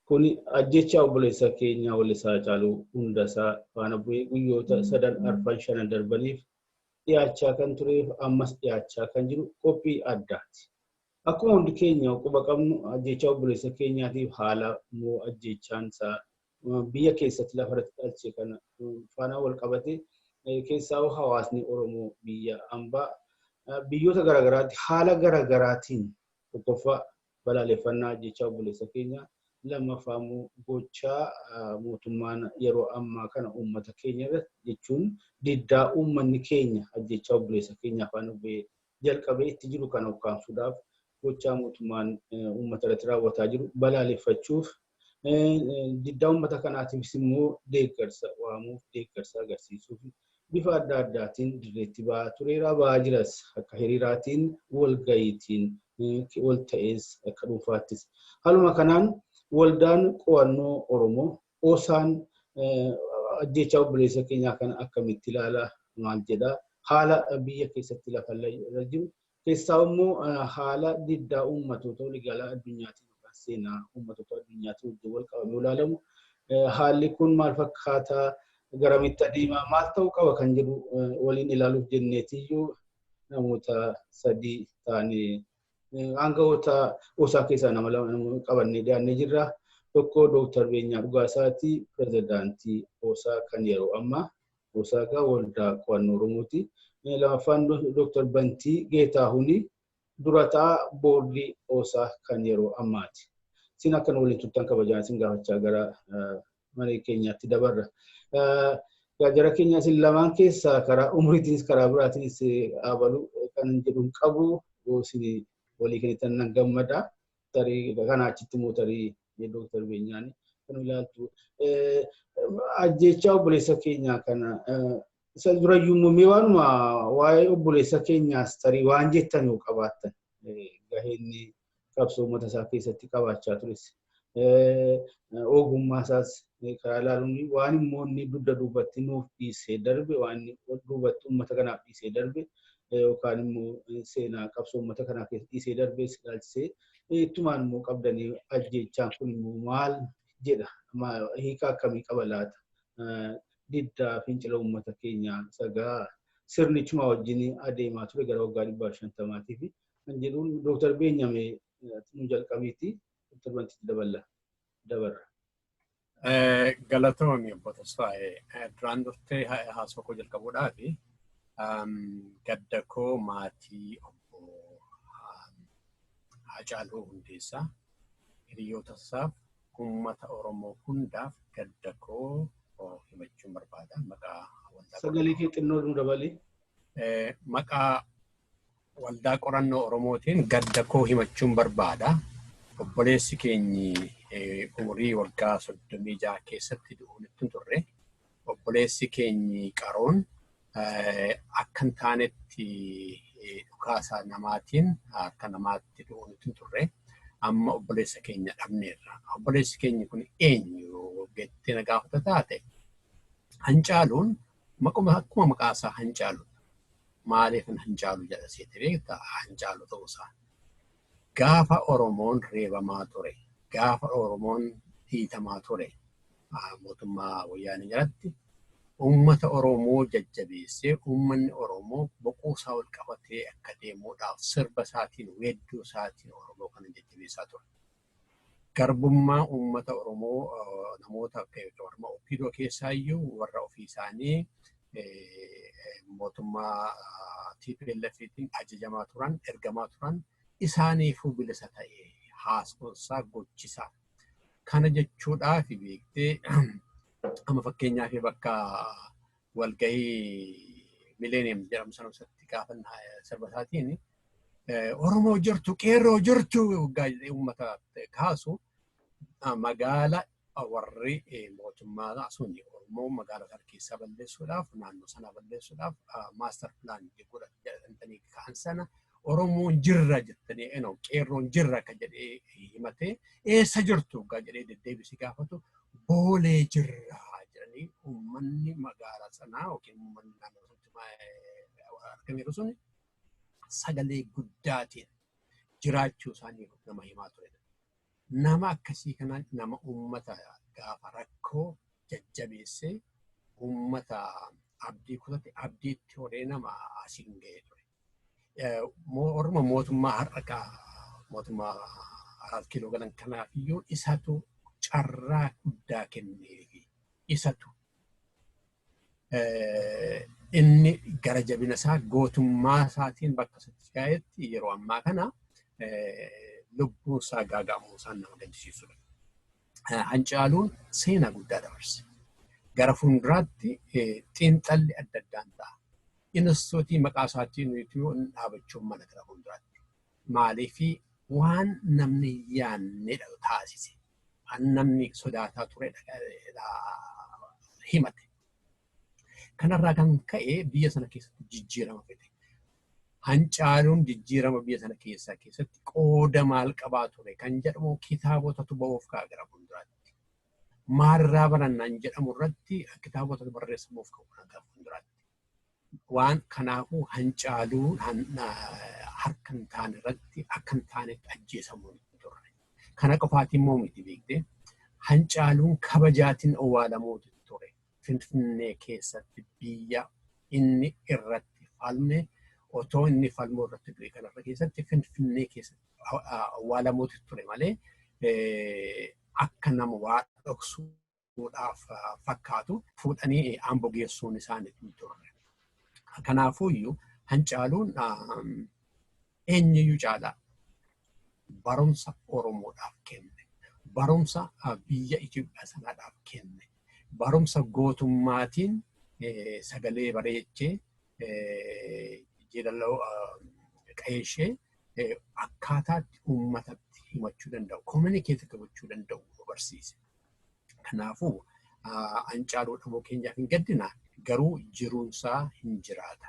Kuni ajjeechaa obboleessa keenya Wallisaa Haacaaluu Hundasaa faana bu'ee guyyoota sadan arfan shanan darbaniif dhiyaachaa kan tureef ammas dhiyaachaa kan jiru qophii addaati. Akkuma hundi keenya quba qabnu ajjeechaa obboleessa keenyaatiif haala moo ajjeechaan isaa biyya keessatti lafarratti dhalche kana faana wal qabate keessaa'uu hawaasni Oromoo biyya ambaa biyyoota garaagaraatti haala garaagaraatiin tokkoffaa Balaaleffannaa ajjeechaa obboleessa keenya lammaffaa immoo gochaa mootummaan yeroo ammaa kana uummata keenya irratti jechuun diddaa uummanni keenya ajjeechaa obboleessa keenyaa faana bu'ee jalqabee itti jiru kana ukkaamsuudhaaf gochaa mootummaan uummata irratti raawwataa jiru balaaleffachuuf diddaa uummata kanaatiifis immoo deeggarsa waamuuf deeggarsa agarsiisuuf bifa adda addaatiin dirreetti ba'aa tureera ba'aa jiras akka hiriiraatiin walga'iitiin wal ta'ees akka dhuunfaattis. Haaluma kanaan waldaan qo'annoo Oromoo osaan ajjeechaa obboleessa keenyaa kana akkamitti ilaala maal jedha haala biyya keessatti lafa irra jiru Keessaa'u immoo haala diddaa uummatootaa waliigalaa addunyaatiin yookaan seenaa uummatootaa addunyaatiin wajjin wal qabamee ilaalamu haalli kun maal fakkaata garamitti adeema maal ta'uu qaba kan jedhu waliin ilaaluuf jenneetiyyuu namoota sadii taanee aangawoota osaa keessaa nama lama qabannee dhiyaannee jirra. Tokko Dooktar Beenyaa Dhugaasaati pirezidaantii osaa kan yeroo ammaa. Osaagaa Waldaa Qo'annoo Oromooti. Lamaffaan Dr. Bantii Geetaahuni dura ta'aa boordii osa kan yeroo ammaati. Isin akka nu waliin turtan kabajaan isin gaafachaa gara maree keenyaatti dabarra. Gaajara keenya isin lamaan keessa karaa umriitiinis karaa biraatiinis abalu kan jedhu hin qabu isin walii kennitan nan gammada. tarii egaa kana achitti immoo tarii ni dooktar beenyaan kan ilaaltu. Ajjechaa obboleessa keenyaa kana isa durayyuu immoo mee waanuma waa'ee obboleessa keenyaas tarii waan jettan yoo qabaattan gaheen qabsoo uummata isaa keessatti qabaachaa tures ogummaa isaas Mee karaa ilaaluun waan immoo inni dugda duubatti nuuf dhiisee darbe waan inni ol duubatti uummata kanaaf dhiisee darbe yookaan immoo seenaa qabsoo uummata kanaaf dhiisee darbe si ilaalchisee ittumaan immoo qabdanii ajjeechaan kun immoo maal jedha hiika akkamii qaba laata diddaa fincila uummata keenyaa sagaa sirnichuma wajjin adeemaa ture gara waggaa dhibbaa shantamaatii fi kan jedhuun dooktar Beenyamee nu jalqabiitti torbanitti daballa. dabarra. Galatoomi obbo Tasfaayee duraan durtee haasoo koo jalqabuudhaaf gadda koo maatii obbo Haacaaluu Hundeessaa hiriyoota isaaf uummata Oromoo hundaaf gadda koo himachuun barbaada maqaa Sagalee kee xinnoo nu dabali. Maqaa Waldaa Qorannoo Oromootiin gadda koo himachuun barbaada. Obboleessi keenyi umurii waggaa 36 keessatti du'uun ittiin turre. Obboleessi keenyi qaroon akka hin taanetti dhukaasa namaatiin akka namaatti du'uun ittiin turre. Amma obboleessa keenya dhabneerra. Obboleessi keenya kun eenyu jettee na gaafata taate hancaaluun Maquma akkuma maqaa isaa hancaaludha. Maaliifan hancaalu jedha seete beekta hancaalu ta'uu isaa. Gaafa Oromoon reebamaa ture, gaafa Oromoon dhiitamaa ture mootummaa wayyaanee jalatti uummata Oromoo jajjabeessee uummanni Oromoo boquu isaa ol qabatee akka deemuudhaaf sirba isaatiin weedduu isaatiin Oromoo kana jajjabeessaa ture. Garbummaa uummata Oromoo namoota warra Oppiidoo keessaa iyyuu warra ofii isaanii mootummaa TPLFtiin ajajamaa turan, ergamaa turan isaaniifuu bilisa ta'e haasonsaa gochisaa. Kana jechuudhaaf beektee amma fakkeenyaaf bakka walgahii mileeniyeem jedhamu sana keessatti gaafa sirba isaatiin Oromoo jirtu qeerroo jirtu waggaa jedhee uummata kaasu magaala warri mootummaa sun Oromoo magaala sana keessaa balleessuudhaaf naannoo sana balleessuudhaaf maastar pilaan godhan jedhanii ka'an sana Oromoon jirra jettanii eno qeerroon jirra akka jedhee himatee eessa jirtu waggaa jedhee deddeebisee gaafatu boolee jirra jedhanii uummanni magaala sanaa yookiin uummanni naannoo sanatti argameeru sun sagalee guddaatiin jiraachuu isaanii nama himaa ture. Nama akkasii kana nama uummata gaafa rakkoo jajjabeessee uummata abdii kutate abdiitti horee nama asiin ga'ee ture. Orma mootummaa har'a mootummaa araat kiiloo galan kanaaf iyyuu isatu carraa guddaa kenneefi isatu inni gara jabina isaa gootummaa isaatiin bakka isatti si'aa'etti yeroo ammaa kana lubbuun isaa gaaga'amuu isaan nama gaddisiisudha. Hancaaluun seenaa guddaa dabarse. Gara fuulduraatti xiinxalli adda addaan ta'a. Inistitiyuutii maqaa isaatiin nuyituu hin dhaabachuun mala gara fuulduraatti. Maaliif waan namni hin yaannedha taasise. Waan namni sodaataa turedha himate. Kanarraa kan ka'e biyya sana keessatti jijjiirama fide. Hancaaluun jijjiirama biyya sana keessaa keessatti qooda maal qabaa ture kan jedhamu kitaabotatu ba'uuf ka'a gara fuulduraatti. maalirraa barannaan jedhamu irratti kitaabota barreessamuuf ka'u nagaa fuulduraatti. Waan kanaafuu hancaaluu harka hin taane irratti akka hin taanetti ajjeesamuun hin turre. Kana qofaatiin immoo miti beekte hancaaluun kabajaatiin owwaalamuutu ture. Finfinnee keessatti biyya inni irratti falme otoo inni falmuu irratti du'e kanarra keessatti Finfinnee keessatti awwaalamuutu ture malee akka nama waa dhoksuudhaaf fakkaatu fuudhanii Ambo geessuun isaanii hin turre. Kanaafuyyuu Hancaaluun eenyuyyuu caalaa barumsa Oromoodhaaf kenne, barumsa biyya Itoophiyaa sanaadhaaf kenne, barumsa gootummaatiin sagalee bareechee jeedaloo qa'ee ishee akkaataatti uummatatti himachuu danda'u, communicate gochuu danda'u nu barsiise. Kanaafuu Haacaaluu dhabuu keenyaaf hin gaddina garuu jiruunsaa hin jiraata.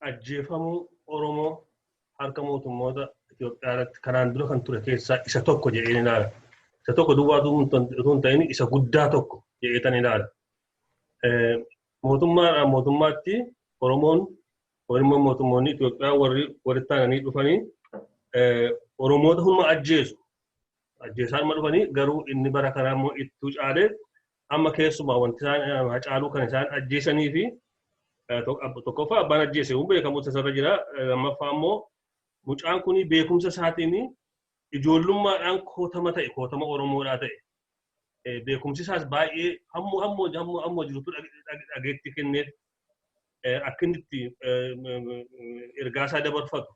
ajjeefamuu Oromoo harka mootummoota Itoophiyaa irratti kanaan dura kan ture keessaa isa tokko jedheen ilaala. Isa tokko duwwaa utuu hin ta'in isa guddaa tokko jedheetan ilaala. Mootummaadhaan mootummaatti Oromoon Oromoon mootummoonni Itoophiyaa warri walitti aananii dhufanii Oromoota humna ajjeesu. Ajjeesaa dhuma dhufanii garuu inni bara kanaa immoo ittuu caalee Amma keessumaa wanti isaan hacaaluu kan isaan ajjeesanii fi tokkoffaa abbaan ajjeese kun beekamu tasarra jira. Lammaffaa immoo mucaan kun beekumsa isaatiin ijoollummaadhaan kootama ta'e kootama Oromoodhaa ta'e beekumsi isaas baay'ee hammoo hammoo hammoo hammoo jirutu dhageetti kenneef akka inni itti ergaa isaa dabarfatu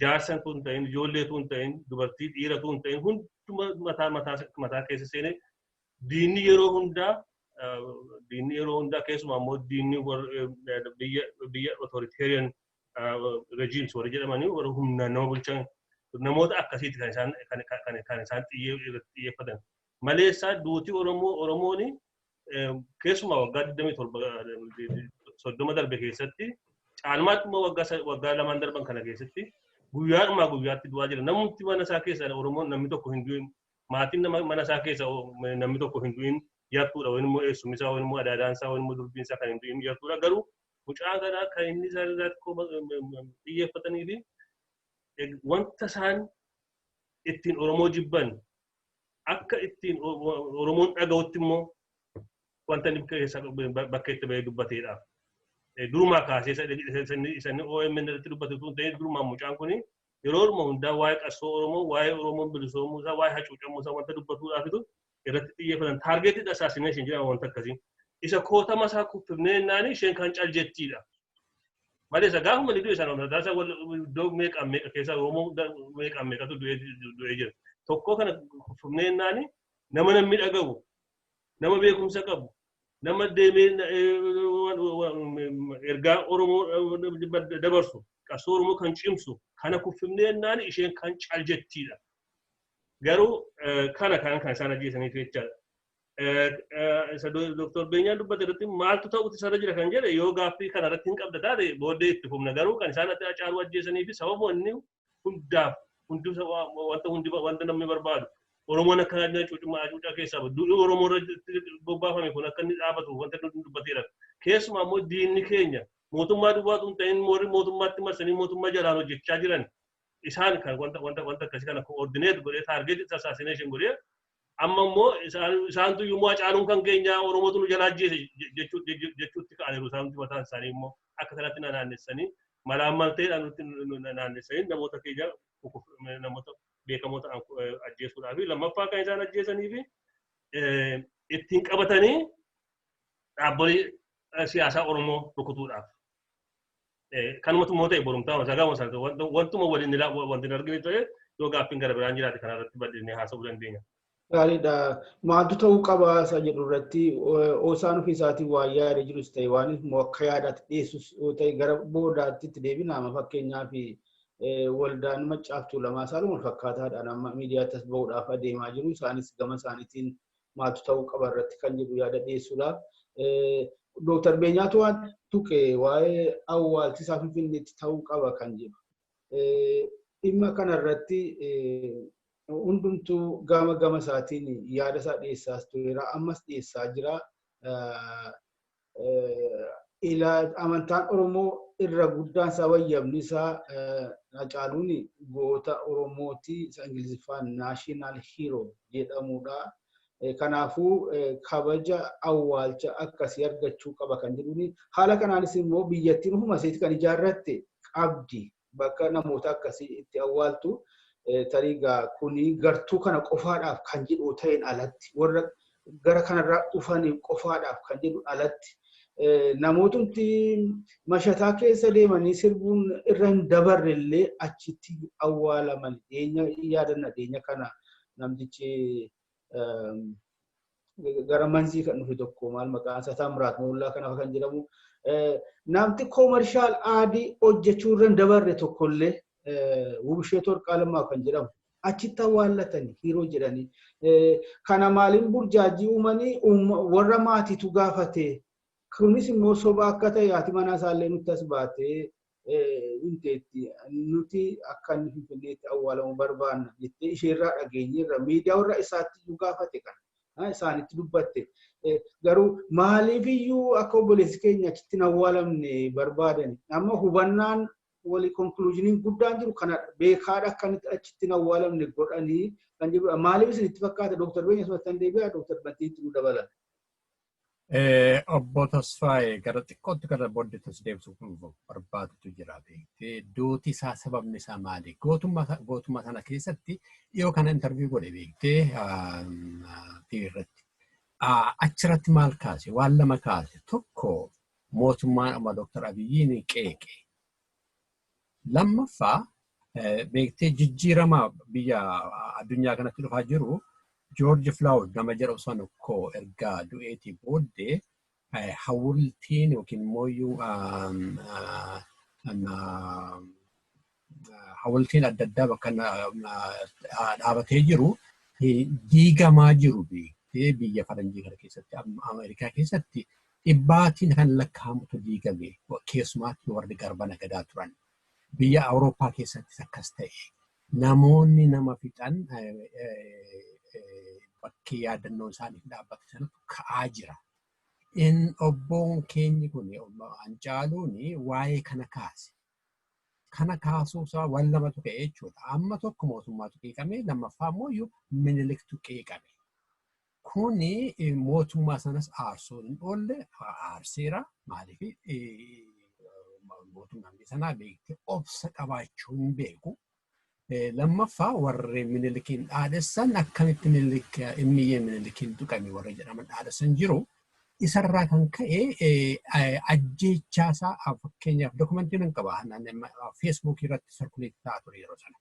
jaarsan tun ta'in ijoollee tun ta'in dubartii dhiira tun ta'in hunduma mataa mataa mataa keessa seenee Diinni yeroo hundaa diinni yeroo hundaa keessumaa immoo diinni biyya biyya authoritarian regimes warri jedhamanii warri humnaan nama bulchan namoota akkasiiti kan isaan kan kan kan isaan xiyyeeffatan. Maleessaa duuti Oromoo Oromooni keessumaa waggaa 27 soddoma darbe keessatti caalmaatti immoo waggaa waggaa lamaan darban kana keessatti guyyaadhumaa guyyaatti du'aa jira. Namumti mana isaa keessaa Oromoon namni tokko hin du'in Maatiin nama mana isaa keessa namni tokko hin du'in yartuudha yookiin immoo eessumni isaa yookiin immoo adaadaan isaa yookiin immoo durbiin isaa kan hin du'in yartuudha garuu mucaa kanaa kan inni isaan irraatti xiyyeeffatanii fi wanta isaan ittiin Oromoo jibban akka ittiin Oromoon dhaga'utti immoo wanta inni keessa bakka itti bahee dubbateedha. Durumaa kaasee isanni OMN irratti dubbatu tun ta'ee durumaa mucaan kun yeroo orma hundaa waa'ee qabsoo Oromoo, waa'ee Oromoon bilisoomuu isaa, waa'ee hacuucamuu isaa wanta dubbatuudhaafitu irratti xiyyeeffatan. Targeted assassination jedhama wanta akkasii. Isa kootama isaa kuffifnee jennaani isheen kan cal jettiidha. Malee isa gaafuma ni du'e sana hundaa isa iddoo meeqaan meeqa keessaa Oromoo meeqaan meeqatu du'ee jira. Tokkoo kana kuffifnee jennaani nama namni dhagahu, nama beekumsa qabu, nama deemee ergaa Oromoo dabarsu qabsoo Oromoo kan cimsu kana kuffifnee jennaan isheen kan cal jettiidha. Garuu kana kan kan isaan ajjeesaniif jechaadha. Isa Dooktor Beenyaan dubbate irratti maaltu ta'uutu isarra jira kan jedhe yoo gaaffii kana irratti hin qabda taate booddee itti fufna garuu kan isaan Hacaaluu ajjeesanii fi sababa inni hundaaf hundi wanta hundi wanta namni barbaadu Oromoon akka inni cuucummaa hacuucaa keessaa bahu duudhii Oromoo irratti bobbaafame kun akka inni dhaabatu wanta nuti dubbateera. Keessumaa immoo diinni keenya mootummaa duwwaatu hin ta'in warri mootummaatti marsanii mootummaa jalaan hojjechaa jiran isaan kan wanta wanta wanta akkasii kana koordineet godhee taargeetii assassination godhee Amma immoo isaantu immoo Hacaaluun kan keenya Oromootu nu jalaa ajjeese jechuutti ka'aniiru isaantu mataan isaanii immoo akka kanatti na naannessanii malaammalteedhaan nutti naannessanii namoota keenya namoota beekamoo ta'an ajjeesuudhaa fi lammaffaa kan isaan ajjeesanii fi ittiin qabatanii dhaabbolee siyaasaa Oromoo rukutuudhaaf Kanumatu immoo ta'e borumtaa masaa gaafa sana wantuma waliin ilaa wanti hin argine ta'e yoo gaaffiin gara biraan jiraate kana irratti bal'inni haasa'uu dandeenya. Gaariidha. Maaltu ta'uu qaba isa jedhu irratti osaan ofii isaatiin waa yaada jirus ta'e waan immoo akka yaadaatti dhiyeessus yoo ta'e gara boodaatti itti deebina amma fakkeenyaaf waldaan maccaaftuu lamaa isaan wal fakkaataadhaan amma miidiyaatti as ba'uudhaaf adeemaa jiru isaanis gama isaaniitiin maaltu ta'uu qaba irratti kan jedhu yaada dhiyeessuudha. Dooktar Beenyaatu waan tuqe waa'ee awwaalchisaa Finfinneetti ta'uu qaba kan jedhu. Dhimma kanarratti hundumtuu gama gama isaatiin yaada isaa dhiyeessaas tureera. Ammas dhiyeessaa jira. amantaan Oromoo irra guddaan isaa wayyabni isaa Hacaaluun goota Oromooti isa Ingiliziffaan National Hero jedhamudha. Kanaafuu kabaja awwaalcha akkasii argachuu qaba kan jedhuun haala kanaanis immoo biyyattiin ofuma isheetti kan ijaarratte qabdi bakka namoota akkasii itti awwaaltu tarii gaa kuni gartuu kana qofaadhaaf kan jedhu ta'een alatti warra gara kanarraa dhufaniif qofaadhaaf kan jedhu alatti namootumti mashataa keessa deemanii sirbuun irra hin dabarre illee achitti awwaalaman dhiyeenya yaadanna dhiyeenya kana namtichi gara manzii kan dhufe tokko maal maqaan isaa Taamiraat Moollaa kanaaf kan jedhamu namti koomershaal aadii hojjechuu irra dabarre tokkollee Wubisheet Warqaa Lammaa kan jedhamu achitti awwaallatanii hiroo jedhanii kana maaliin burjaajii uumanii warra maatiitu gaafatee kunis immoo soba akka ta'e haati manaa isaallee nutti as baatee hin teetti. Nuti akka inni Finfinneetti awwaalamu barbaanna jettee isheerraa dhageenyeerra. Miidiyaawwan isaatti iyyuu gaafate kana. Isaanitti dubbatte. Garuu maaliif iyyuu akka obboleessi keenya achitti hin awwaalamne barbaadani. Amma hubannaan walii konkuluuzhiniin guddaan jiru kana beekaadha akka inni achitti hin awwaalamne godhanii kan jedhudha. Maaliif isinitti fakkaata? Dooktar Beenyaa Sumattan deebi'aa, Dooktar Bantiitti nu dabalan. Obbo Tasfaayee gara xiqqootti gara booddeetti si deebisuuf barbaadutu jira beektee duuti isaa sababni isaa maali? Gootummaa sana keessatti dhiyoo kana intarviyu godhe beektee TV irratti. Achirratti maal kaase? Waan lama kaase. Tokko mootummaan amma Dooktar Abiyyiin qeeqe. Lammaffaa beektee jijjiirama biyya addunyaa kanatti dhufaa jiru Joorji Filaawud nama jedhamu sana koo erga du'eetii booddee hawultiin yookiin immoo hawultiin adda addaa bakka dhaabatee jiru diigamaa jiru beektee biyya faranjii kana keessatti Ameerikaa keessatti Dhibbaatiin kan lakkaa'amutu diigame, keessumaatti warri garba nagadaa turan. Biyya Awurooppaa keessattis akkas ta'e. Namoonni nama fixan bakki yaadannoon isaaniif dhaabbate sanatu ka'aa jira. In obboon keenyi kun Hancaaluun waa'ee kana kaase. Kana kaasuusaa waan lamatu ka'e jechuudha. Amma tokko mootummaatu qeeqame, lammaffaa immoo Miniliktu qeeqame. Kuni mootummaa sanas aarsuu hin oolle aarseera. Maaliif mootummaan biyya sanaa beekte obsa qabaachuu hin beeku. Lammaffaa warri minilikiin dhaadessan akkamitti minilik immiyyee minilikiin tuqame warra jedhaman dhaadessan jiru. Isarraa kan ka'e ajjeechaasaa fakkeenyaaf dokumentii nan qaba feesbuukii irratti sarkuleetti ta'aa ture yeroo sana.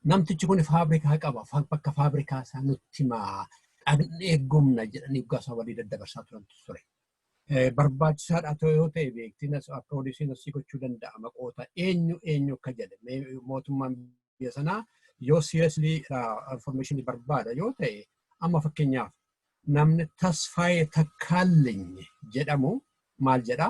Namtichi kun faabrikaa qaba, fa- bakka faabrikaa isaa nutti himaa dhaqnee gumna jedhanii gaasaa walii daddabarsaa turan ture. Eh, Barbaachisaadha ta'e yoo ta'e beektiin as approodisiin asii gochuu danda'a maqoota eenyu eenyu akka jedhe mee mootummaan biyya sanaa yoo seriously information barbaada yoo ta'e amma fakkeenyaaf namni tasfaayee takkaallinyi jedhamu maal jedha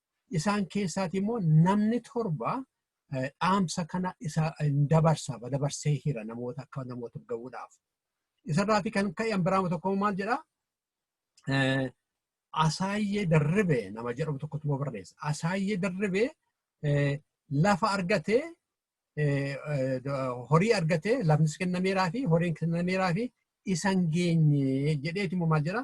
isaan keessaati immoo namni torba dhaamsa kana isa dabarsa dabarsee hira namoota akka namoota ga'uudhaaf. Isarraati kan ka'e biraama tokko maal jedha? Asaayyee darribee nama jedhamu tokkotu immoo barreessa. Asaayyee darribee lafa argatee horii argatee lafnis kennameeraa fi horiin kennameeraa fi isan geenye jedheeti immoo maal jedha?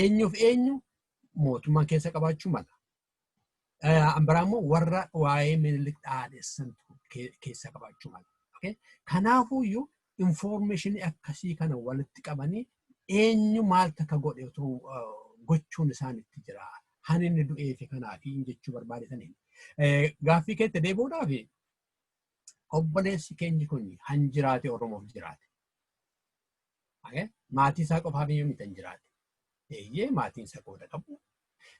eenyuuf eenyu mootummaan keessa qabaachuu mala. Ambaraa immoo warra waa'ee minilik dhaadhessan keessa qabaachuu mala. Kanaafuyyuu infoormeeshinii akkasii kana walitti qabanii eenyu maal takka godhe otoo gochuun isaan itti jira. Kan inni du'ee fi kanaafi jechuu barbaadetaniin. Gaaffii keetti deebi'uudhaaf obboleessi keenyi kun kan jiraate Oromoof jiraate. Okay? Maatii isaa qofaaf iyyuu miti hin jiraate. Eeyyee maatiin isaa qooda qabu.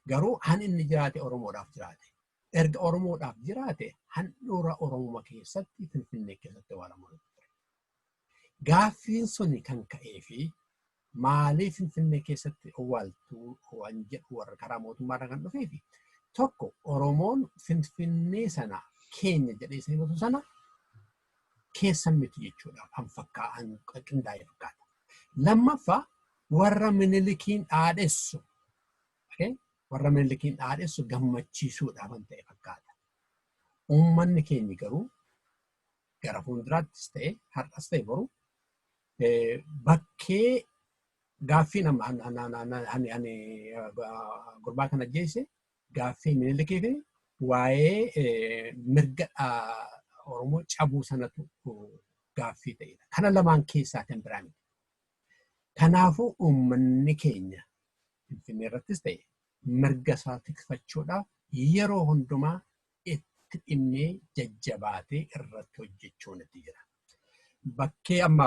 Garuu han inni jiraate Oromoodhaaf jiraate. Erga Oromoodhaaf jiraate handhuura Oromuma keessatti Finfinnee keessatti awwaalamu ture. Gaaffiin suni kan ka'ee fi maaliif Finfinnee keessatti awwaaltuu waan jedhu warra karaa mootummaarra kan dhufee fi tokko Oromoon Finfinnee sana keenya jedhee isa himatu sana keessan miti jechuudha kan fakkaa'an qindaa'ee fakkaata. Lammaffaa warra minilikiin dhaadhessu warra minilikiin dhaadhessu gammachiisuudha kan ta'e fakkaata. Uummanni keenya garuu gara fuulduraattis ta'e har'as ta'e boru bakkee gaaffiin gurbaa kana ajjeese Gaaffii Minilikiif waa'ee mirga Oromoo cabuu sanatu gaaffii ta'edha. Kana lamaan keessaa kan biraa miti. Kanaafuu uummanni keenya Finfinnee irrattis ta'e mirga isaa tikfachuudhaaf yeroo hundumaa itti dhimmee jajjabaatee irratti hojjechuun itti jira. Bakkee amma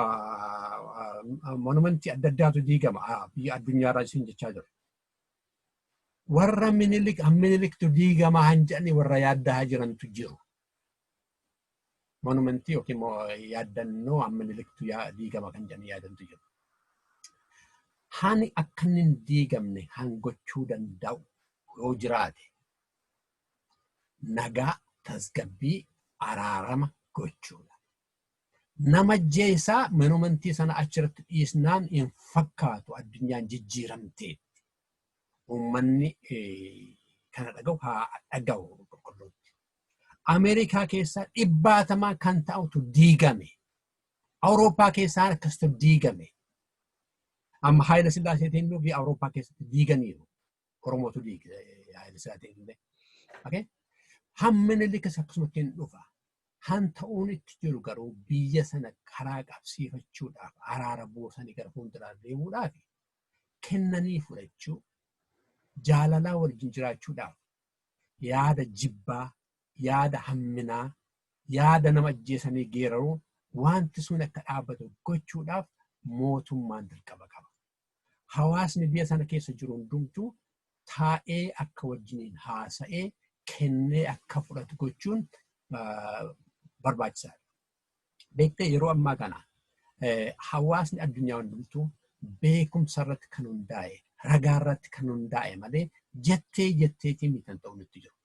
monumentii adda addaatu diigama biyya addunyaarraa isin jechaa jiru. warra minilik an miniliktu diigamaa han jedhanii warra yaaddahaa jirantu jiru. Monumentii yookiin immoo yaaddannoo an miniliktu diigama kan jedhanii yaadantu jiru. Hani akka inni hin diigamne han gochuu danda'u yoo jiraate nagaa tasgabbii araarama gochuudha. nama ajjeesaa manumantii sana achirratti dhiisnaan hin fakkaatu addunyaan jijjiiramteetti. Uummanni kana dhaga'u haa dhaga'u qulqulluutti. Ameerikaa keessaa dhibbaatamaa kan ta'utu diigame. Awurooppaa keessaa akkasitu diigame. Amma Haayila Sillaaseetiin nuuf Awurooppaa keessatti diiganiiru. Oromootu diige Haayile Sillaasee illee. Okay? Hammina likas akkasumatti hin dhufa. Han ta'uun itti jiru garuu biyya sana karaa qabsiifachuudhaaf araara buusanii gara fuulduraa deemuudhaaf kennanii fudhachuu jaalalaa wajjin jiraachuudhaaf yaada jibbaa yaada hamminaa yaada nama ajjeesanii geeraruu wanti sun akka dhaabbatu gochuudhaaf mootummaan dirqama qaba. hawaasni biyya sana keessa jiru hundumtuu taa'ee akka wajjiniin haasa'ee kennee akka fudhatu gochuun barbaachisaadha. Beektee yeroo ammaa kana hawaasni addunyaa hundumtuu beekumsa irratti kan hundaa'e ragaa irratti kan hundaa'e malee jettee jetteetiin mitan ta'u nutti jiru.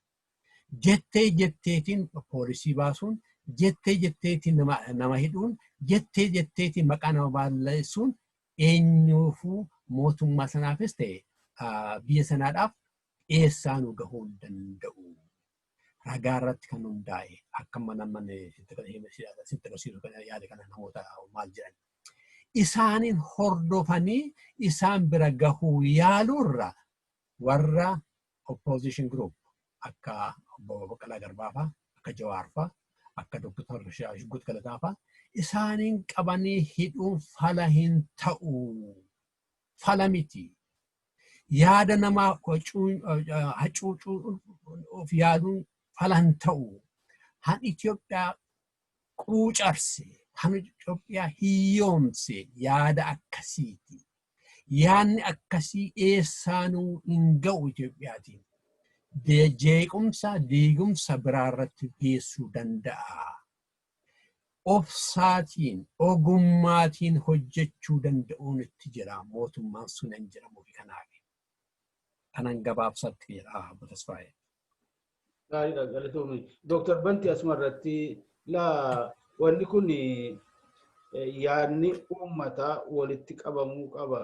Jettee jetteetiin poolisii baasuun jettee jetteetiin nama hidhuun jettee jetteetiin maqaa nama balleessuun eenyuufuu mootummaa sanaafis ta'e biyya sanaadhaaf dhiyeessaa nu gahuu hin danda'u. Ragaa irratti kan hundaa'e akka mana mana sitti agarsiisu kana yaada kana namoota maal jedhan. Isaaniin hordofanii isaan bira gahuu yaaluurra warra Opposition group akka obbo Baqqalaa Garbaa fa'a, akka Jawaar fa'a, akka Dr. Shuggut Galataa fa'a isaaniin qabanii hidhuun fala hin ta'u. Fala miti. Yaada namaa hacuucuu of yaaduun fala hin ta'u. Han Itoophiyaa quucarse, kan Itoophiyaa hiyyoomse yaada akkasiiti. Yaadni akkasii eessaanuu hin ga'u Itoophiyaatiin. Jeequmsa, diigumsa biraa irratti geessuu danda'a. Obsaatiin, ogummaatiin hojjechuu danda'uun itti jira mootummaan sunan jedhamuuf kanaaf. Kanan gabaabsatti jedha Obbo Tasfaayee. Gaariidha galatoomi. Dooktar Banti asuma irratti laa wanni kun yaadni uummataa walitti qabamuu qaba.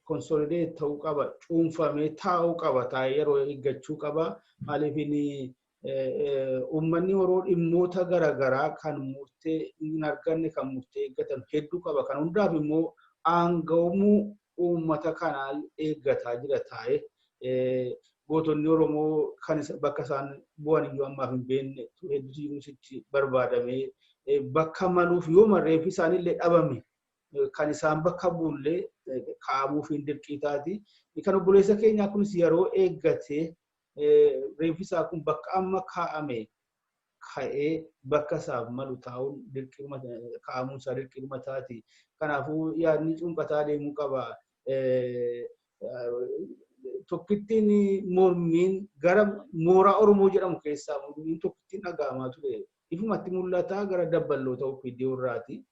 Konsolideet ta'uu qaba. Cuunfamee taa'uu qaba. Taa'ee yeroo eeggachuu qaba. Maaliif inni uummanni yeroo dhimmoota garaagaraa kan murtee hin arganne kan murtee eeggatan hedduu qaba. Kan hundaaf immoo aanga'umuu uummata kanaa eeggataa jira taa'ee. gootonni Oromoo kan bakka isaan bu'an iyyuu ammaaf hin beekne hedduutu jiruus itti barbaadamee bakka maluuf yoo marreef isaan illee dhabame kan isaan bakka buullee kaa'amuuf hin dirqii taati. Kan obboleessa keenyaa kunis yeroo eeggatee reeffi isaa kun bakka amma kaa'ame ka'ee bakka isaaf malu taa'uun dirqiidhuma kaa'amuun isaa dirqiidhuma taati. Kanaafuu yaadni cunqataa deemuu qaba. Tokkittiin mormiin gara mooraa Oromoo jedhamu keessaa mormiin tokkittiin dhaga'amaa ture. Ifumatti mul'ataa gara dabballoota OPDO irraati.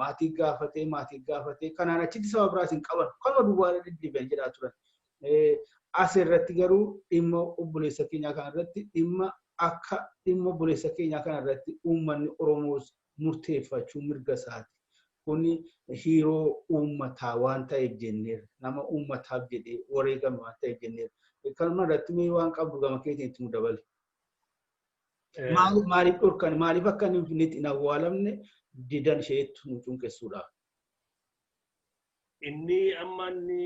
maatii gaafatee maatii gaafatee kanaan achitti saba biraas hin qaban kanuma duwwaa irra deddeebi'an jedhaa turan. As irratti garuu dhimma obboleessa keenyaa kana irratti dhimma akka dhimma obboleessa keenyaa kana irratti uummanni Oromoos murteeffachuu mirga isaati. Kun hiiroo uummataa waan ta'eef jenneerra. Nama uummataaf jedhee wareegame waan ta'eef jenneerra. Kanuma irratti mee waan qabdu gama keetiin itti nu dabali. Maaliif maaliif dhorkan maaliif akka inni finfinneetti hin awwaalamne didan isheetti nu cunqessuudha. Inni amma inni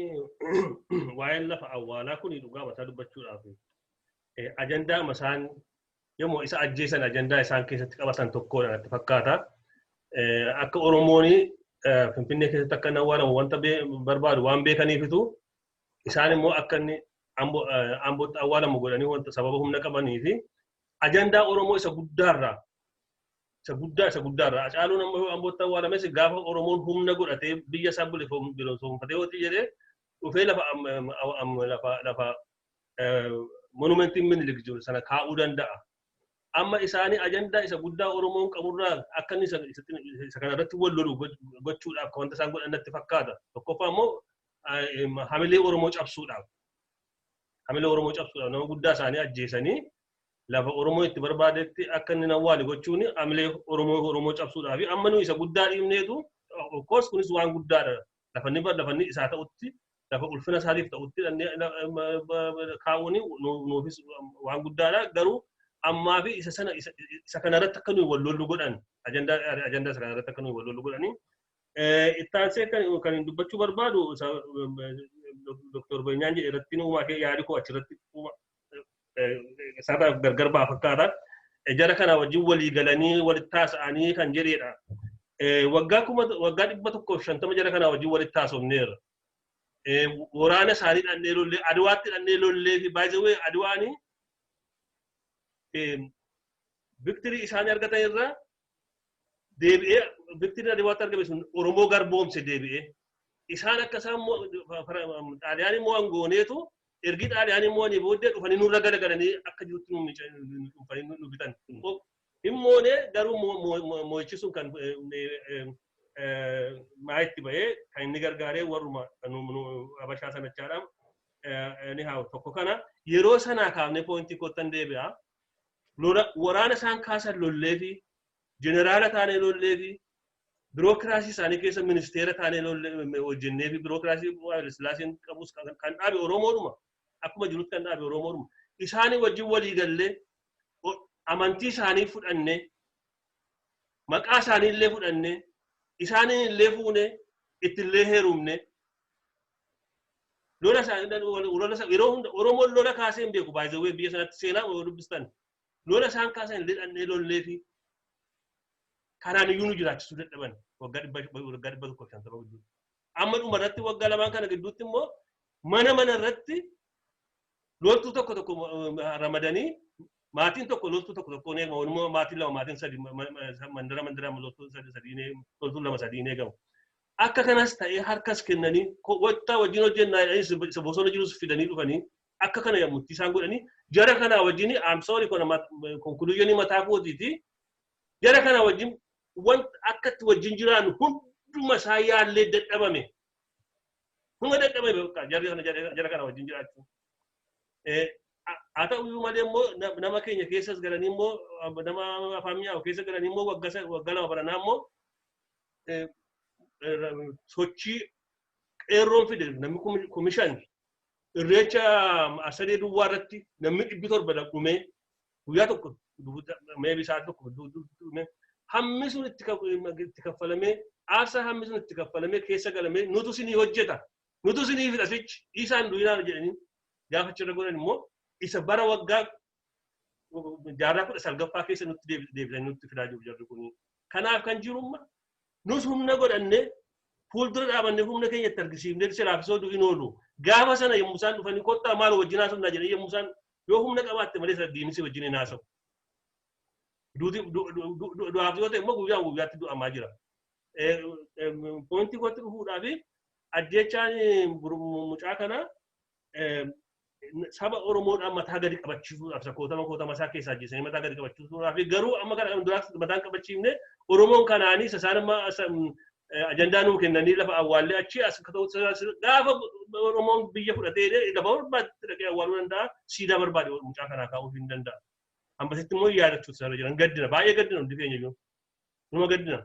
waa'een lafa awwaalaa kun dhugaa mataa dubbachuudhaaf ajandaa masaan yommuu isa ajjeesan ajandaa isaan keessatti qabatan tokkoodha natti fakkaata. Akka Oromoon Finfinnee keessatti akka hin awwaalamu wanta barbaadu waan beekaniifitu isaan immoo akka inni ambootti awwaalamu godhanii wanta sababa humna qabanii fi ajandaa Oromoo isa guddaarraa isa guddaa isa guddaarraa Hacaaluun amma ambootti awwaalames gaafa Oromoon humna godhatee biyya isaa bilisoomfatee hojii jedhee dhufee lafa lafa lafa monumentiin minilik jiru sana kaa'uu danda'a. Amma isaanii ajandaa isa guddaa Oromoon qaburraa akka inni isa kanarratti wal lolu gochuudhaaf wanta isaan godhan natti fakkaata. Tokkoffaa immoo hamilee Oromoo cabsuudhaaf hamilee Oromoo cabsuudhaaf nama guddaa isaanii ajjeesanii lafa Oromoo itti barbaadetti akka inni nawwaale gochuun hamilee Oromoo Oromoo cabsuudhaaf amma nu isa guddaa dhiibneetu of course kunis waan guddaadha lafa inni lafa inni isaa ta'utti lafa ulfina isaatiif ta'utti kaa'uun nuufis waan guddaadha garuu ammaa fi isa sana isa kanarratti akka nuyi wal lollu godhan ajandaa isa kanarratti akka nuyi wal lollu godhanii Itti aansee kan dubbachuu barbaadu Dr. Beenyaan jedhe irratti uumaa kee yaadi koo achirratti isaarraa gargar ba'a fakkaata. Jara kana wajjin walii galanii walitti haasa'anii kan jedheedha. Waggaa kuma waggaa dhibba tokkoof shantama jara kana wajjin walitti haasofneerra. Waraana isaanii dhannee lollee Adwaatti dhannee lollee fi baay'ee Adwaanii victory isaanii argatan irraa deebi'ee victory irra deebi'aatti argame sun Oromoo garboomse deebi'ee. Isaan akka isaan xaaliyaanii mo'an gooneetu ergi xaaliyaanii mo'anii booddee dhufanii nurra galagalanii akka jirutti dhufanii nu bitan. Hin moonee garuu mo'ichi sun kan maayitti ba'ee kan inni gargaaree warruma abashaa sanachaadhaan ni haa tokko kana yeroo sanaa kaafnee poointii koottan deebi'a. lola waraana isaan kaasan lolleefi jeneraala taanee lolleefi birookiraasii isaanii keessa ministeera taanee lollee hojjenneefi birookiraasii Haayile Sillaaseen qabus kan kan dhaabe Oromoodhuma akkuma jirutti kan dhaabe Oromoodhuma isaanii wajjin walii gallee o- amantii isaanii fudhannee maqaa isaanii illee fudhannee isaanii illee fuunee itti illee heerumnee Lola isaa lola isaa yeroo hunda Oromoon lola kaasee hin beeku by the way biyya sanatti seenaa yoo dubbistan lola isaan kaasan lixannee lollee fi kanaan iyyuu nu jiraachisuu dadhaban waggaa dhibba waggaa dhibba tokko shantama gidduu. Amma dhuma irratti waggaa lamaan kana gidduutti immoo mana mana irratti loltuu tokko tokko ramadanii maatiin tokko loltuu tokko tokko hin eegamu immoo maatiin lama maatiin sadi mandara mandara loltuu sadi sadii loltuu lama sadii hin eegamu. Akka kanas ta'ee harkas kennanii kottaa wajjin hojjennaa jedhanii isa bosona jirus fidanii dhufanii akka kana yammutti isaan godhanii jara kanaa wajjin I'm sorry kana conclusion mataa kootiiti jara kanaa wajjin wanta akka itti wajjin jiraannu hunduma isaa yaallee dadhabame hunda dadhabame bakka jarri kana jara kana wajjin jiraachuu. Haa ta'u iyyuu malee immoo nama keenya keessas galanii immoo nama afaan mi'aawu keessa galanii immoo waggaa lama baranaa immoo sochii qeerroon fide namni kumishan irreecha asadee duwwaa irratti namni dhibbi torba dhumee guyyaa tokko mee bisaa tokko dhumee hammi sun itti kaffalamee aarsaa hammi sun itti kaffalamee keessa galamee nutu sinii hojjeta nutu sinii fidhasichi isaan duwinaan jedhanii gaafa achirra godhan immoo isa bara waggaa jaarraa kudha salgaffaa keessa nutti deebisan nutti fidaa jiru jarri kun. Kanaaf kan jirumma nus humna godhanne fuuldura dhaabanne humna keenya itti argisiifne silaaf isoo du'in oolu. Gaafa sana yommuu isaan dhufanii kottaa maal wajjin haasofnaa jedhee yommuu isaan yoo humna qabaatte malee sana diinisi wajjin hin haasawu. Du'aaf yoo ta'e immoo guyyaa guyyaatti du'amaa jira. Pointii kootti dhufuudhaaf ajjechaan mucaa kanaa saba Oromoodhaan mataa gadi qabachiisuudhaaf isa kootama kootama isaa keessaa ajjeesanii mataa gadi qabachiisuudhaaf garuu amma kana kan duraatti mataan qabachiifne Oromoon kanaanii isaan amma ajandaa nuu kennanii lafa awwaallee achi as akka ta'utti gaafa Oromoon biyya fudhatee lafa barbaadetti dhaqee awwaaluu danda'a siidaa barbaade mucaa kanaa kaa'uu hin danda'a. Ammasitti immoo yaadachuutu isaarra jiran gaddina baay'ee gaddina hundi keenya iyyuu. Numa gaddina.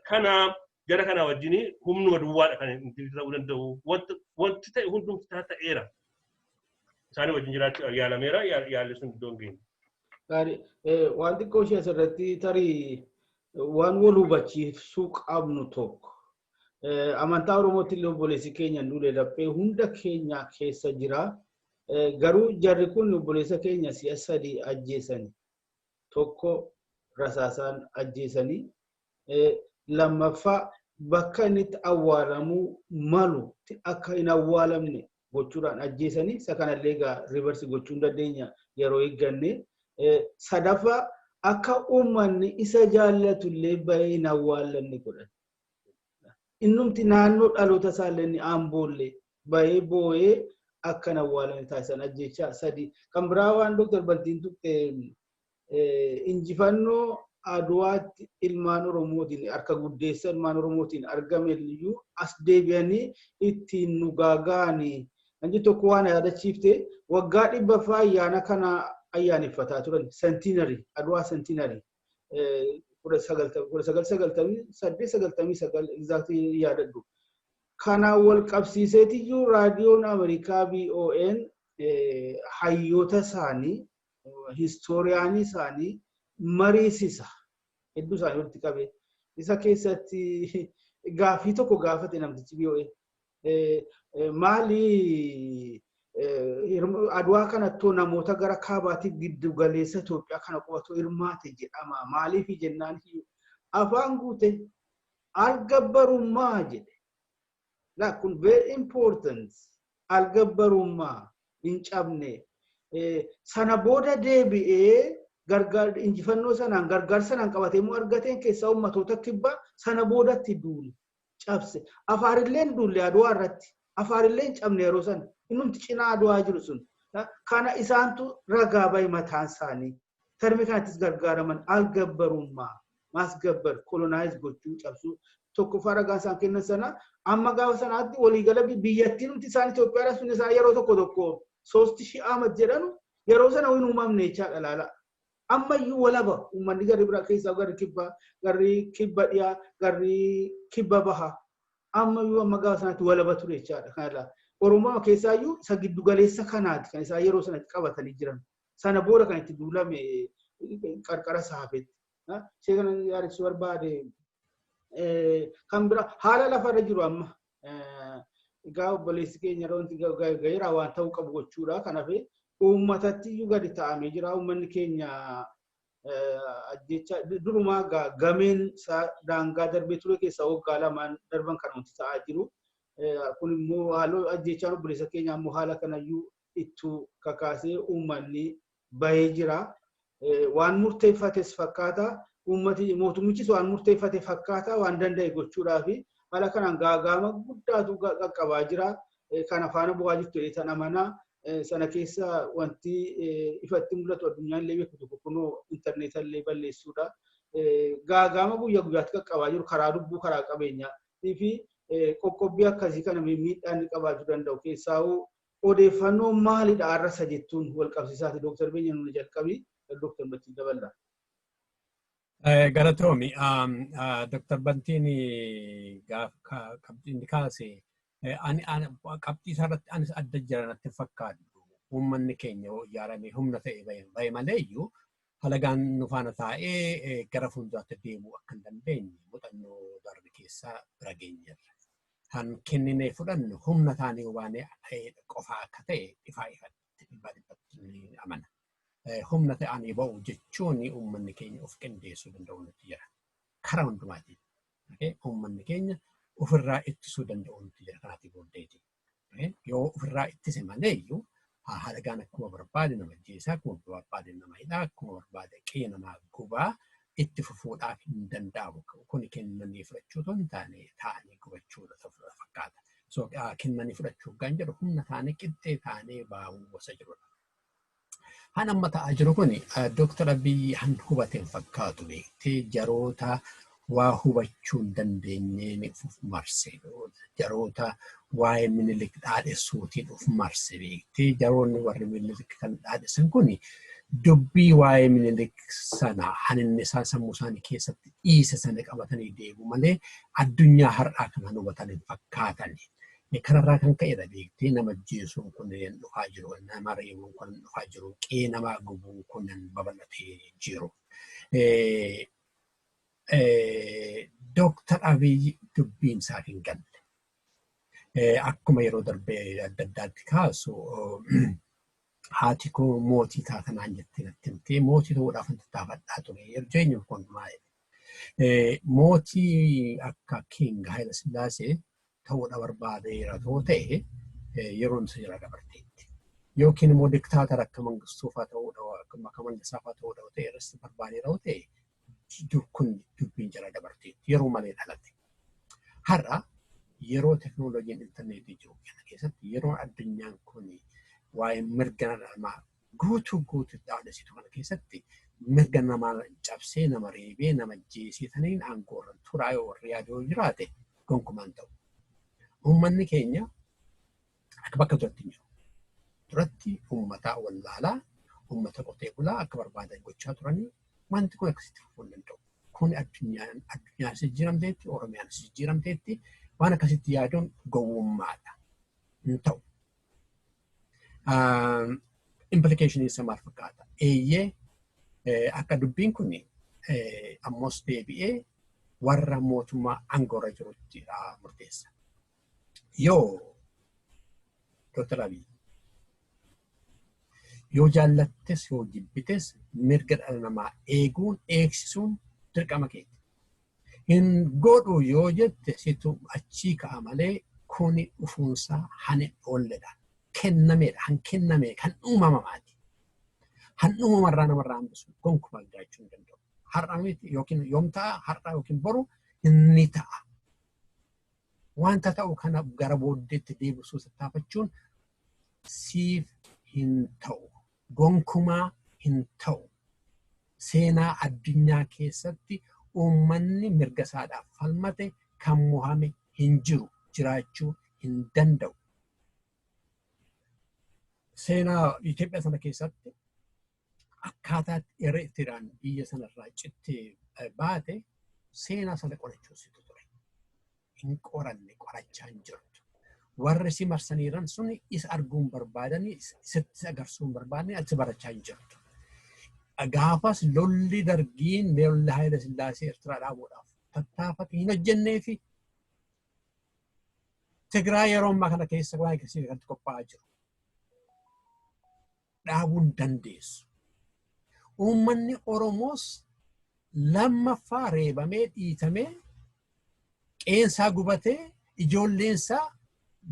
Kana gara kanaa wajjin humnuma duwwaadha kan inni ta'uu danda'u. Wanti ta'e hundumti ta'eera. Isaanii wajjin jiraachuu yaalameera yaalli sun iddoo hin geenye. Gaarii. Waan xiqqoo ishee asirratti tarii waan wal hubachiisuu qabnu tokko. Amantaa Oromootti illee obboleessi keenya duule laphee hunda keenya keessa jira. Garuu jarri kun obboleessa keenya si'a sadii ajjeesani. tokko rasaasaan ajjeesanii lammaffaa bakka inni itti awwaalamuu malutti akka hin awwaalamne gochuudhaan ajjeesanii isa kanallee egaa rivarsi gochuu hin dandeenya yeroo eegganne sadaffaa akka uummanni isa jaallatullee bahee hin awwaallanne godhan. Innumti naannoo dhaloota isaallee inni Amboollee bahee boo'ee akka hin awwaalamne taasisan ajjeechaa sadii. Kan biraa waan Dr. Bantiin tuqxe injifannoo Adwaatti ilmaan Oromootiin harka guddeessa ilmaan Oromootiin argame iyyuu as deebi'anii ittiin nu gaaga'anii kan jedhu tokko waan yaadachiifte waggaa dhibbaffaa ayyaana kana ayyaaneffataa turan sentiinarii Adwaa sentiinarii. kudha sagal ta'u kudha sagal sagaltamii saddeet sagaltamii sagal egzaaktii yaadadhu. Kanaan wal qabsiiseetiyyuu raadiyoon Ameerikaa BON hayyoota isaanii histooriyaanii isaanii mariisisa hedduu isaanii walitti qabee isa keessatti gaaffii tokko gaafate namtichi BON. Maali adwaa kanattuu namoota gara kaabaatii giddu galeessa Itoophiyaa kana qubatu hirmaate jedhama. Maaliif jennaan afaan guute algabbarummaa jedhe. Laa kun very important algabbarummaa hin cabne. Sana booda deebi'ee injifannoo sanaan gargaarsa sanaan qabatee immoo argateen keessaa uummatoota kibbaa sana boodatti duule. cabse. Afaarilleen duulle Adwaa irratti. Afaarilleen cabne yeroo san. Innumti cinaa Adwaa jiru sun. Kana isaantu ragaa bahe mataan isaanii. Termii kanattis gargaaraman algabbarummaa, maasgabbar, colonize gochuu, cabsuu. Tokkoffaa ragaan isaan kennan sana amma gaafa sanaatti waliigala biyyattiinumti isaan Itoophiyaa dha sun isaan yeroo tokko tokko soosti shii Ahmad jedhanu yeroo sana hin uumamne jechaadha laala. Ammayyuu walaba uummanni garri biraa keessaa garri kibbaa, garri kibba dhiyaa, garri kibba bahaa ammayyuu amma gaafa sanatti walaba ture jechaadha kan irraa. Oromooma keessaayyuu isa giddu galeessa kanaati kan isaan yeroo sanatti qabatanii jiran. Sana booda kan itti duulame qarqara isaa hafetti. Ishee kana yaadachiisuu barbaade kan biraa haala lafarra jiru amma Egaa obboleessi keenya yeroo wanti ga'eera waan ta'uu qabu gochuudha. Kanaaf uummatatti iyyuu gadi ta'amee jira. Uummanni keenya ajjeechaa durumaa gameen isaa daangaa darbee ture keessaa waggaa lamaan darban kan wanti ta'aa jiru. Kun immoo haaloo ajjeechaan obboleessa keenya ammoo haala kanayyuu ittuu kakaasee uummanni bahee jira. Waan murteeffates fakkaata. Uummati mootummichis waan murteeffate fakkaata waan danda'e gochuudhaaf haala kanaan gaaga'ama guddaatu qaqqabaa jira. Kana faana bu'aa jirtu jedhee tan amanaa. Sana keessa wanti ifatti mul'atu addunyaan illee beeku tokko kunoo intarneeta illee balleessuudha. Gaaga'ama guyyaa guyyaatti qaqqabaa jiru karaa lubbuu karaa qabeenyaa fi qoqqobbii akkasii kana miidhaan qabaachuu danda'u keessaahuu Odeeffannoon maalidha arrasa jettuun walqabsiisaati Dr. Benya nuun jalqabi Dr. Bachi daballa. Galatoomi. Dr. Bantiin qabxiin kaase qabxii isaarratti anis adda jira natti fakkaatu. Uummanni keenya yoo ijaarame humna ta'e bahe malee iyyuu halagaan nu faana taa'ee gara fuulduraatti deemuu akka hin dandeenye muuxannoo darbe keessaa bira geenyeerra. kan kenninee fudhannu humna taanee hubaanee qofaa akka ta'e ifaa ifatti dhibbaa dhibbatti ni amana. Humna ta'anii ba'u jechuun uummanni keenya of qindeessuu danda'u nuti jira. Karaa hundumaatiin uummanni keenya ofirraa ittisuu danda'u nuti jira kanaatii booddeeti. Yoo ofirraa ittise malee iyyuu haa haa dhagaan akkuma barbaade nama ajjeesaa akkuma barbaade nama hidhaa akkuma barbaade qe'ee namaa gubaa itti fufuudhaaf hin danda'amu kun kennanii fudhachuu otoo hin taane taa'anii gubachuudha ta'uudha fakkaata. So kennanii fudhachuuf kan jedhu humna taanee qixxee taanee baahuu gosa jirudha. Han amma ta'aa jiru kun Dooktar Abiyyi han hubateen fakkaatu beektee jaroota waa hubachuu hin dandeenyeen uf marse jaroota waa'ee minilik dhaadhessuutiin uf marse beektee jaroonni warri minilik kan dhaadhessan kun dubbii waa'ee minilik sana haninni isaan sammuu isaanii keessatti dhiise sana qabatanii deemu malee addunyaa har'aa kan hubatan hin fakkaatani. Kanarraa kan ka'edha beektee nama jeesuun kun dhufaa jiru nama reebuun kun dhufaa jiru qee namaa gubuun kun babal'atee jiru. Dooktar Abiy dubbiin isaaf hin galle. Akkuma yeroo darbee adda addaatti kaasu haati koo mootii taata naan jettee natti himtee mootii ta'uudhaaf hin tattaafadhaa ture. Erjeenyi kun maa'e. Mootii akka Kiing Haayila Sillaasee ta'uudha barbaadeera too ta'e yeroon isa jala dabarteetti. Yookiin immoo diktaatara akka mangistuufaa ta'uudha akka mangisaafaa ta'uudha yoo ta'e irratti barbaadeera yoo ta'e kun dubbiin jala dabarteetti yeroo malee dhalate. Har'a yeroo teknooloojiin intarneetii jiru kana keessatti yeroo addunyaan kun waa'ee mirga namaa Guutuu guututti aadasitu kana keessatti mirga nama cabsee nama reebee nama ajjeesee saniin aangoo irra turaa yoo warri yaadu yoo jiraate gonkumaa hin ta'u. Uummanni keenya akka bakka duratti hin jiru. Duratti uummata wallaalaa uummata qotee bulaa akka barbaadan gochaa turanii wanti kun akkasitti fufuu hin danda'u. Kun addunyaan addunyaanis jijjiiramteetti Oromiyaanis jijjiiramteetti waan akkasitti yaaduun gowwummaadha. Hin ta'u. Implikeeshinii isa maal fakkaata? Eeyyee akka dubbiin kun ammas deebi'ee warra mootummaa aangoorra jirutti murteessa. Yoo Dr. Abiy yoo jaallattes yoo jibbites mirga dhala namaa eeguun eegsisuun dirqama keeti. Hin godhu yoo jette situ achii ka'a malee kuni dhufuunsaa han hin oolledha. Kennameedha, han kenname, kan uumamamaati. Han uumamarraa namarraa hambisu gonkumaa jiraachuu hin danda'u. Har'a miti yookiin yoom ta'a, har'a yookiin boru ni ta'a. Wanta ta'u kana gara booddeetti deebisuu tattaafachuun siif hin ta'u. Gonkumaa hin ta'u. Seenaa addunyaa keessatti uummanni mirga isaadhaaf falmate kan mohame hin jiru, jiraachuu hin danda'u. Seenaa Itoophiyaa sana keessatti akkaataa Eritrean biyya sana irraa cittee baate seenaa sana qorachuusitu ture. hin qoranne qorachaa hin jirtu. Warri si marsaniiran sun isa arguu hin barbaadani, sitti agarsuu hin barbaadani, ati barachaa hin jirtu. Gaafas lolli dargiin lolli Haayila Sillaasee Eertiraa dhaabuudhaaf tattaafate hin hojjennee fi Tigraay yeroo ammaa kana keessa waan akkasii kanatti qophaa'aa jiru. dhaabuu hin dandeessu. Uummanni Oromoos lammaffaa reebamee dhiitamee qeensaa gubatee ijoolleensaa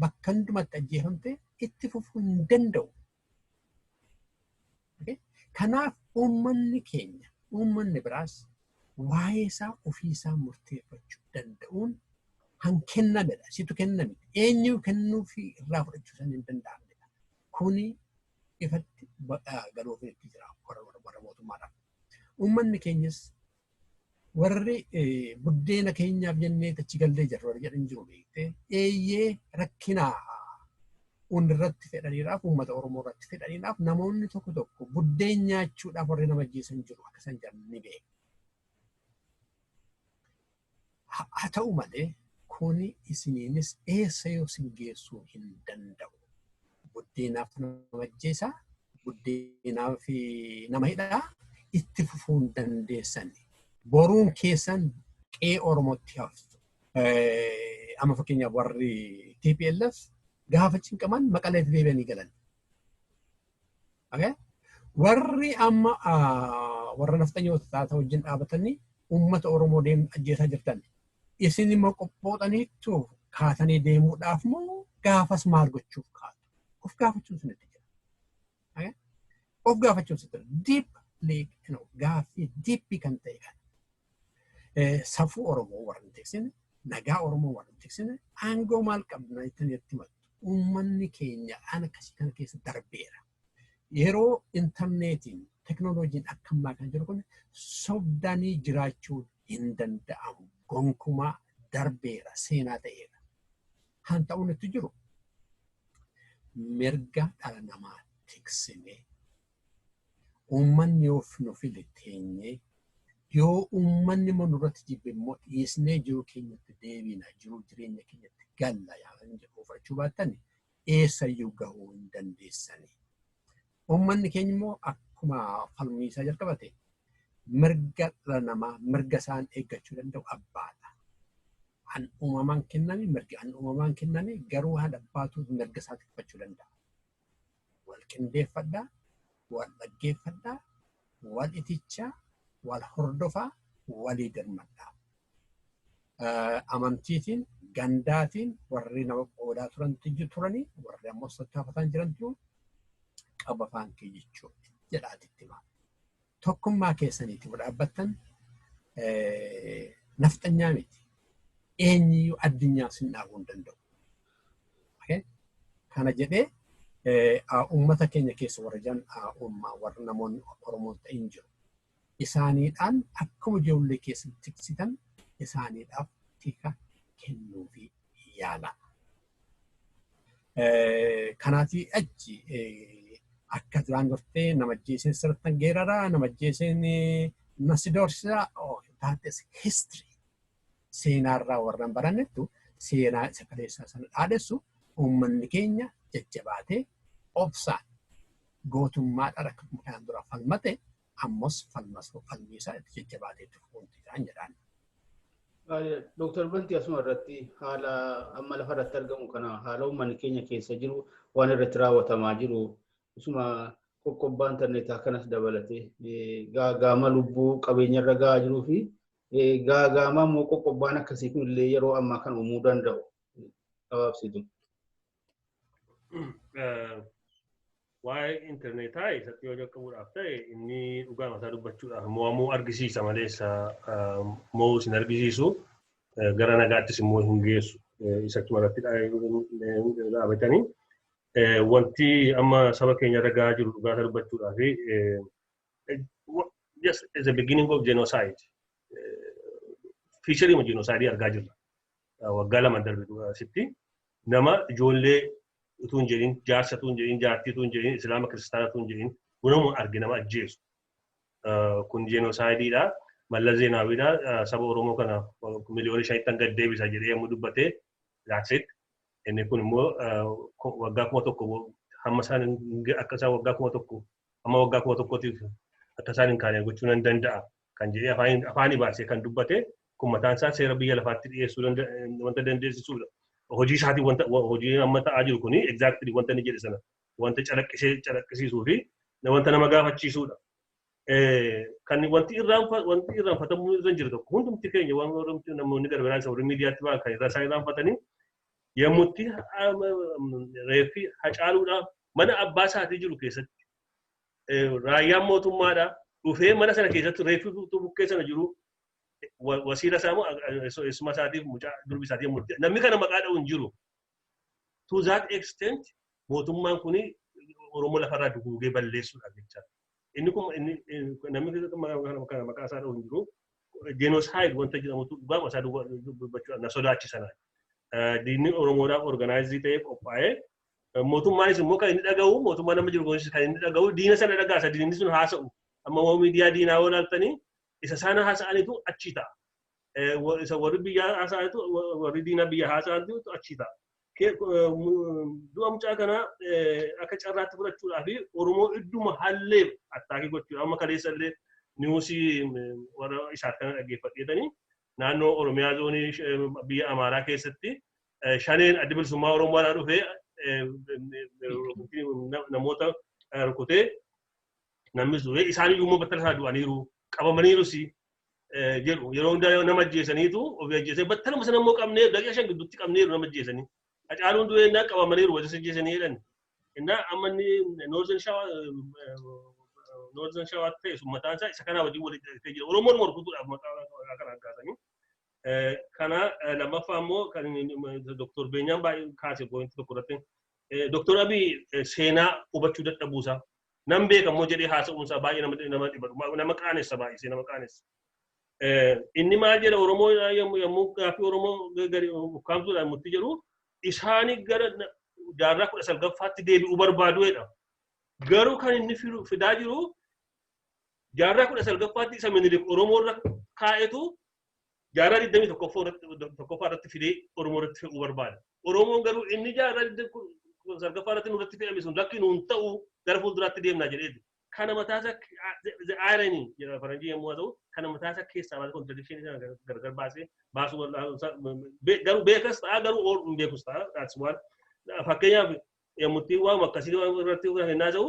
bakka hundumatti ajjeefamtee itti fufuu hin danda'u. Kanaaf uummanni keenya uummanni biraas waa'ee isaa ofii isaa murteeffachuu danda'uun kan kennamedha. Situ kenname. Eenyu kennuufi irraa fudhachuu san hin danda'amnedha. Kuni ifatti galoofeetti jira warra mootummaadhaaf. Uummanni keenyas warri buddeena keenyaaf jennee achi gallee jirra warri jedhan jiru beektee eeyyee rakkina irratti fedhaniidhaaf uummata Oromoo irratti fedhaniidhaaf namoonni tokko tokko buddeen nyaachuudhaaf warri nama ajjeesan jiru akka isaan jedhan ni beeku. Haa ta'u malee, kuni isiniinis eessayyuu isin geessuu hin danda'u. Buddeenaaf nama ajjeesa, buddeenaaf nama hidha, itti fufuu hin dandeessan. Boruun keessan qe'ee Oromootti haftu. Amma fakkeenyaaf warri TPLF gaafa cinqaman maqaleetti deebi'anii galan. Okay? Warri amma ah, warra nafxanyoota taata wajjin dhaabatanii uummata Oromoo deemuun ajjeesaa jirtan. Isin immoo qophootaniittu kaatanii deemuudhaaf moo gaafas maal gochuuf kaatu? Of gaafachuun isinitti jira. Okay? Of gaafachuun isinitti jira. Deep league, you know, gaaffii deep kan ta'e kan. Safuu Oromoo warra hin tiksine, nagaa Oromoo warra hin tiksine, aangoo maal qabna jettanii itti himattu. Uummanni keenya haala akkasii kana keessa darbeera. Yeroo intarneetiin teknooloojiin akka ammaa kan jiru kun sobdanii jiraachuun hin danda'amu. Gonkumaa darbeera seenaa ta'eera. Kan ta'uun itti jiru mirga dhala namaa tiksinee Uummanni yoo nu file teenyee, yoo uummanni immoo nurratti jibbe immoo dhiisnee jiruu keenyatti deebiina, jiruu jireenya keenyatti galla yaadan jedhu fudhachuu baattani eessayyuu gahuu hin dandeessani. Uummanni keenya immoo akkuma falmii isaa jalqabate mirga dhala namaa mirga isaan eeggachuu danda'u abbaadha. An uumamaan kenname mirgi an uumamaan kenname garuu haadha abbaatu mirga isaa tikfachuu danda'a. wal qindeeffadhaa, wal dhaggeeffadhaa, wal itichaa, wal hordofaa, walii dirmadhaa. Amantiitiin, gandaatiin warri nama qoodaa turan tiyyu turanii warri ammoo sattaafataan jiran jiru qaba afaan kee jechuudha jedhaati itti himaa. tokkummaa keessaniiti yoo dhaabbattan nafxanyaa miti. Eenyiyyuu addunyaa sin dhaabuu hin danda'u. Kana jedhee uummata keenya keessa warra jiran uummaa warra namoonni Oromoo ta'in jiru. Isaaniidhaan akkuma ijoollee keessa tiksitan isaaniidhaaf tika kennuufi yaalaa. Kanaatii achi akka duraan gortee nama ajjeeseen sirrittan geerara nama ajjeeseen na si doorsisa taates history seenaarraa warran barannettu seenaa isa kaleessaa sana dhaadessu uummanni keenya jajjabaatee obsaan gootummaadhaan akka kanaan dura falmate ammas falmasuu falmii isaa itti jajjabaatee itti fufuun jedhaan jedhaan. Dooktar Bantii asuma irratti haala amma lafa irratti argamu kana haala uummanni keenya keessa jiru waan irratti raawwatamaa jiru isuma qoqqobbaan tanneetaa kanas dabalatee gaagaama lubbuu qabeenya irra gahaa jiruu fi gaagaama immoo qoqqobbaan akkasii kun illee yeroo ammaa kan uumuu danda'u gabaabsitu. waa'ee intarneetaa isatti yoo jalqabuudhaaf ta'e inni dhugaa mataa dubbachuudhaaf mo'amuu argisiisa malee isa mo'uu isin argisiisu gara nagaattis immoo hin geessu isatti maratti dhaabatanii wanti amma saba keenya irra gahaa jiru dhugaa isaa dubbachuudhaaf just as a beginning of genocide fiisharii ma genocide argaa jirra waggaa lama darbe dura asitti nama ijoollee utuu hin jedhin jaarsa utuu hin jedhin jaartii utuu hin jedhin islaama kiristaana utuu hin jedhin unamu arge nama ajjeesu. Kun jeenosaayidiidha. Mallas Zeenaawiidha. Saba Oromoo kana miliyoona shanittan gad deebisa jedhee yommuu dubbatee raakseet. Inni kun immoo waggaa kuma tokko hamma isaan akka isaan waggaa kuma tokko hamma waggaa kuma tokkootiif akka isaan hin kaane gochuu nan danda'a kan jedhee afaaniin afaanii baasee kan dubbate kun mataan isaa seera biyya lafaatti dhiyeessuu danda- wanta dandeessisuudha. Hojii isaatiin wanta wa- hojiin amma ta'aa jiru kuni exactly wanta inni jedhe sana wanta calaqqisee calaqqisiisuu fi na- wanta nama gaafachiisuudha. Eh, Kan wanti irraanfa wanti irraanfatamuu irra hin jiru tokko hundumti keenya waan hundumti namoonni gargaaraan isa warri miidiyaatti ba'an kan irra isaa irraanfatanii yommutti reeffi hacaaluudhaaf mana abbaa isaatii jiru keessatti raayyaan mootummaadha dhufee mana sana keessatti reeffi utuu bukkee sana jiru wa- wasiila isaa moo eessuma isaatiif mucaa durbi isaatiif murte namni kana maqaa dha'u hin jiru. To that extent mootummaan kun Oromoo lafarraa duguugee balleessuudhaaf jecha. Inni kun inni inni- namni kana kana maqaa isaa dha'u hin jiru. Genocide wanta jedhamutu dhugaama isaa dubbachuu na sodaachisanaa. Diinni Oromoodhaaf organaayizii ta'ee qophaa'ee Mootummaanis immoo kan inni dhaga'u mootummaa nama jiru kunis kan inni dhaga'u diina sana dhagaasa diinni sun haasa'u. Amma immoo miidiyaa diinaa yoo ilaaltanii isa sana haasa'anitu achii ta'a. Isa warri biyyaa haasa'anitu warri diinaa biyya haasa'anitu achii ta'a. Du'a mucaa kanaa akka carraatti fudhachuudhaa fi Oromoo idduma hallee attaakii gochuudha. Amma kaleessa illee niwusii warra isaaf kana dhaggeeffadheetanii naannoo Oromiyaa zoonii biyya Amaaraa keessatti shaneen adda bilisummaa Oromoo irraa dhufe namoota rukutee namnis du'e isaan iyyuu immoo battala isaa du'aniiru qabamaniirus jedhu yeroo hundaa nama ajjeesaniitu ofii ajjeesanii battaluma sana immoo qabnee daqiiqa shan gidduutti qabneeru nama ajjeesanii hacaaluun du'e innaa qabamaniiru wajjin ajjeesanii jedhan innaa amma inni noorzen shawaa noorzen shawaa ta'e sun mataan isaa isa kanaa wajjin walitti hidhatee jira oromoon morkutuudhaaf maqaa kanaan kaasanii Kana lammaffaa immoo kan Dr. Beenyaan baay'ee kaase poointii tokko irratti Dr. Abiy seenaa hubachuu dadhabuusaa nan beeka immoo jedhee haasa'uunsaa baay'ee nama dhiba nama qaanessa baay'isee nama qaanessa. Inni maal jedha Oromoo yommuu gaaffii Oromoo gadi ukkaamsuudhaan murtii jedhu isaani gara jaarraa kudha salgaffaatti deebi'uu barbaadu jedha. Garuu kan inni fidaa jiru jaarraa kudha salgaffaatti isa minilik Oromoo irra kaa'etu jaarraa 21ffaa irratti fidee Oromoo irratti fe'uu barbaada. Oromoon garuu inni jaarraa 29ffaa irratti nurratti fe'ame sun lakki nuun ta'u gara fuulduraatti deemnaa jedheeti. Kana mataasa the irony jedha faranjii yommuu haa ta'u kana mataasa keessaa baasee contradiction isaa gargar baasee baasuu garuu beekas ta'a garuu ool hin beekus ta'a that's one. Fakkeenyaaf yommutti waan akkasii irratti hennaa ta'u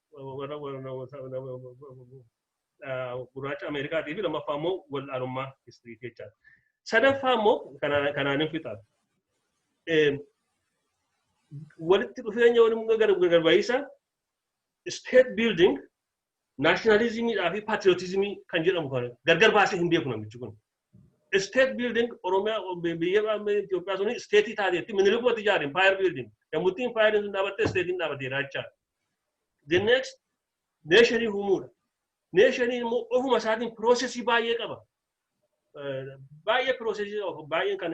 warra gurraacha Ameerikaatii fi lammaffaa immoo wal'aanummaa histirii jechaadha. Sadaffaa immoo kanaan hin fixaan. Walitti dhufeenya waliin gargaabayiisa state building nationalizimiidhaa fi patriotismii kan jedhamu kan gargar baasee hin beeku namichi kun. State building Oromiyaa biyya Itoophiyaa suni state taateetti minilikuma ijaare empire building. Yommutti empire sun dhaabatte state dhaabateera jechaadha. The next neesharii uumuudha. Neeshariin immoo ofuma isaatiin piroosesii baay'ee qaba. Baay'ee piroosesii baay'een kan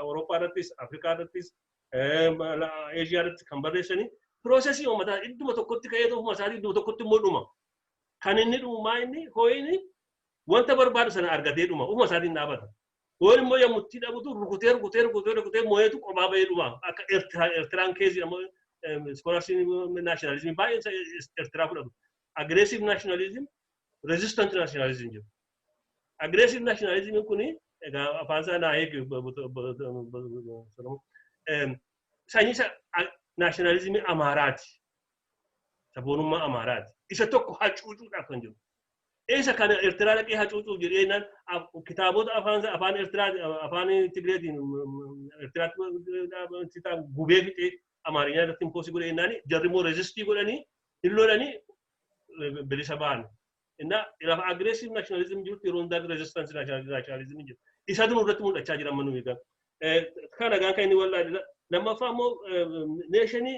Awurooppaa irrattis, Afrikaa irrattis, Eeshiyaa irratti kan barreessanii piroosesii uummataa idduma tokkotti ka'ee ofuma isaatiin idduma tokkotti immoo dhuma. Kan inni dhumaa inni hoo'ini wanta barbaadu sana argatee dhuma ofuma isaatiin dhaabata. Yoo immoo yommuu itti dhabutu rukutee rukutee rukutee rukutee moo'eetu qophaa ba'ee dhuma. Akka Eertiraa Eertiraan keezii amma iskoolarsii naashinaalizimii baay'een Eertiraa fudhatu. Agireesiv naashinaalizim reezistant naashinaalizim jiru. Agireesiv naashinaalizimiin kun egaa afaan isaa naa eegi sanyii naashinaalizimii Amaaraati. Saboonummaa Amaaraati. Isa tokko hacuucuudhaaf kan jiru. Isa kana Ertiraa dhaqee hacuucuuf jedhee jennaan af- kitaabota afaan isaa- afaan Ertiraa afaan Tigireetiin Ertiraatti ta'an gubee fixee Amaarinyaa irratti impoosii godhee jennaan jarri immoo reezistii godhanii hin lolanii eh, bilisa ba'an. Innaa lafa agreesiv naashinaalizim jirutti yeroo hundaa reezistaansi naashinaalizim jiru. Isatu nurratti mul'achaa jira amma nuyi egaa. Eh, Kana egaa kan inni wal'aadha. Lammaffaa immoo neeshinii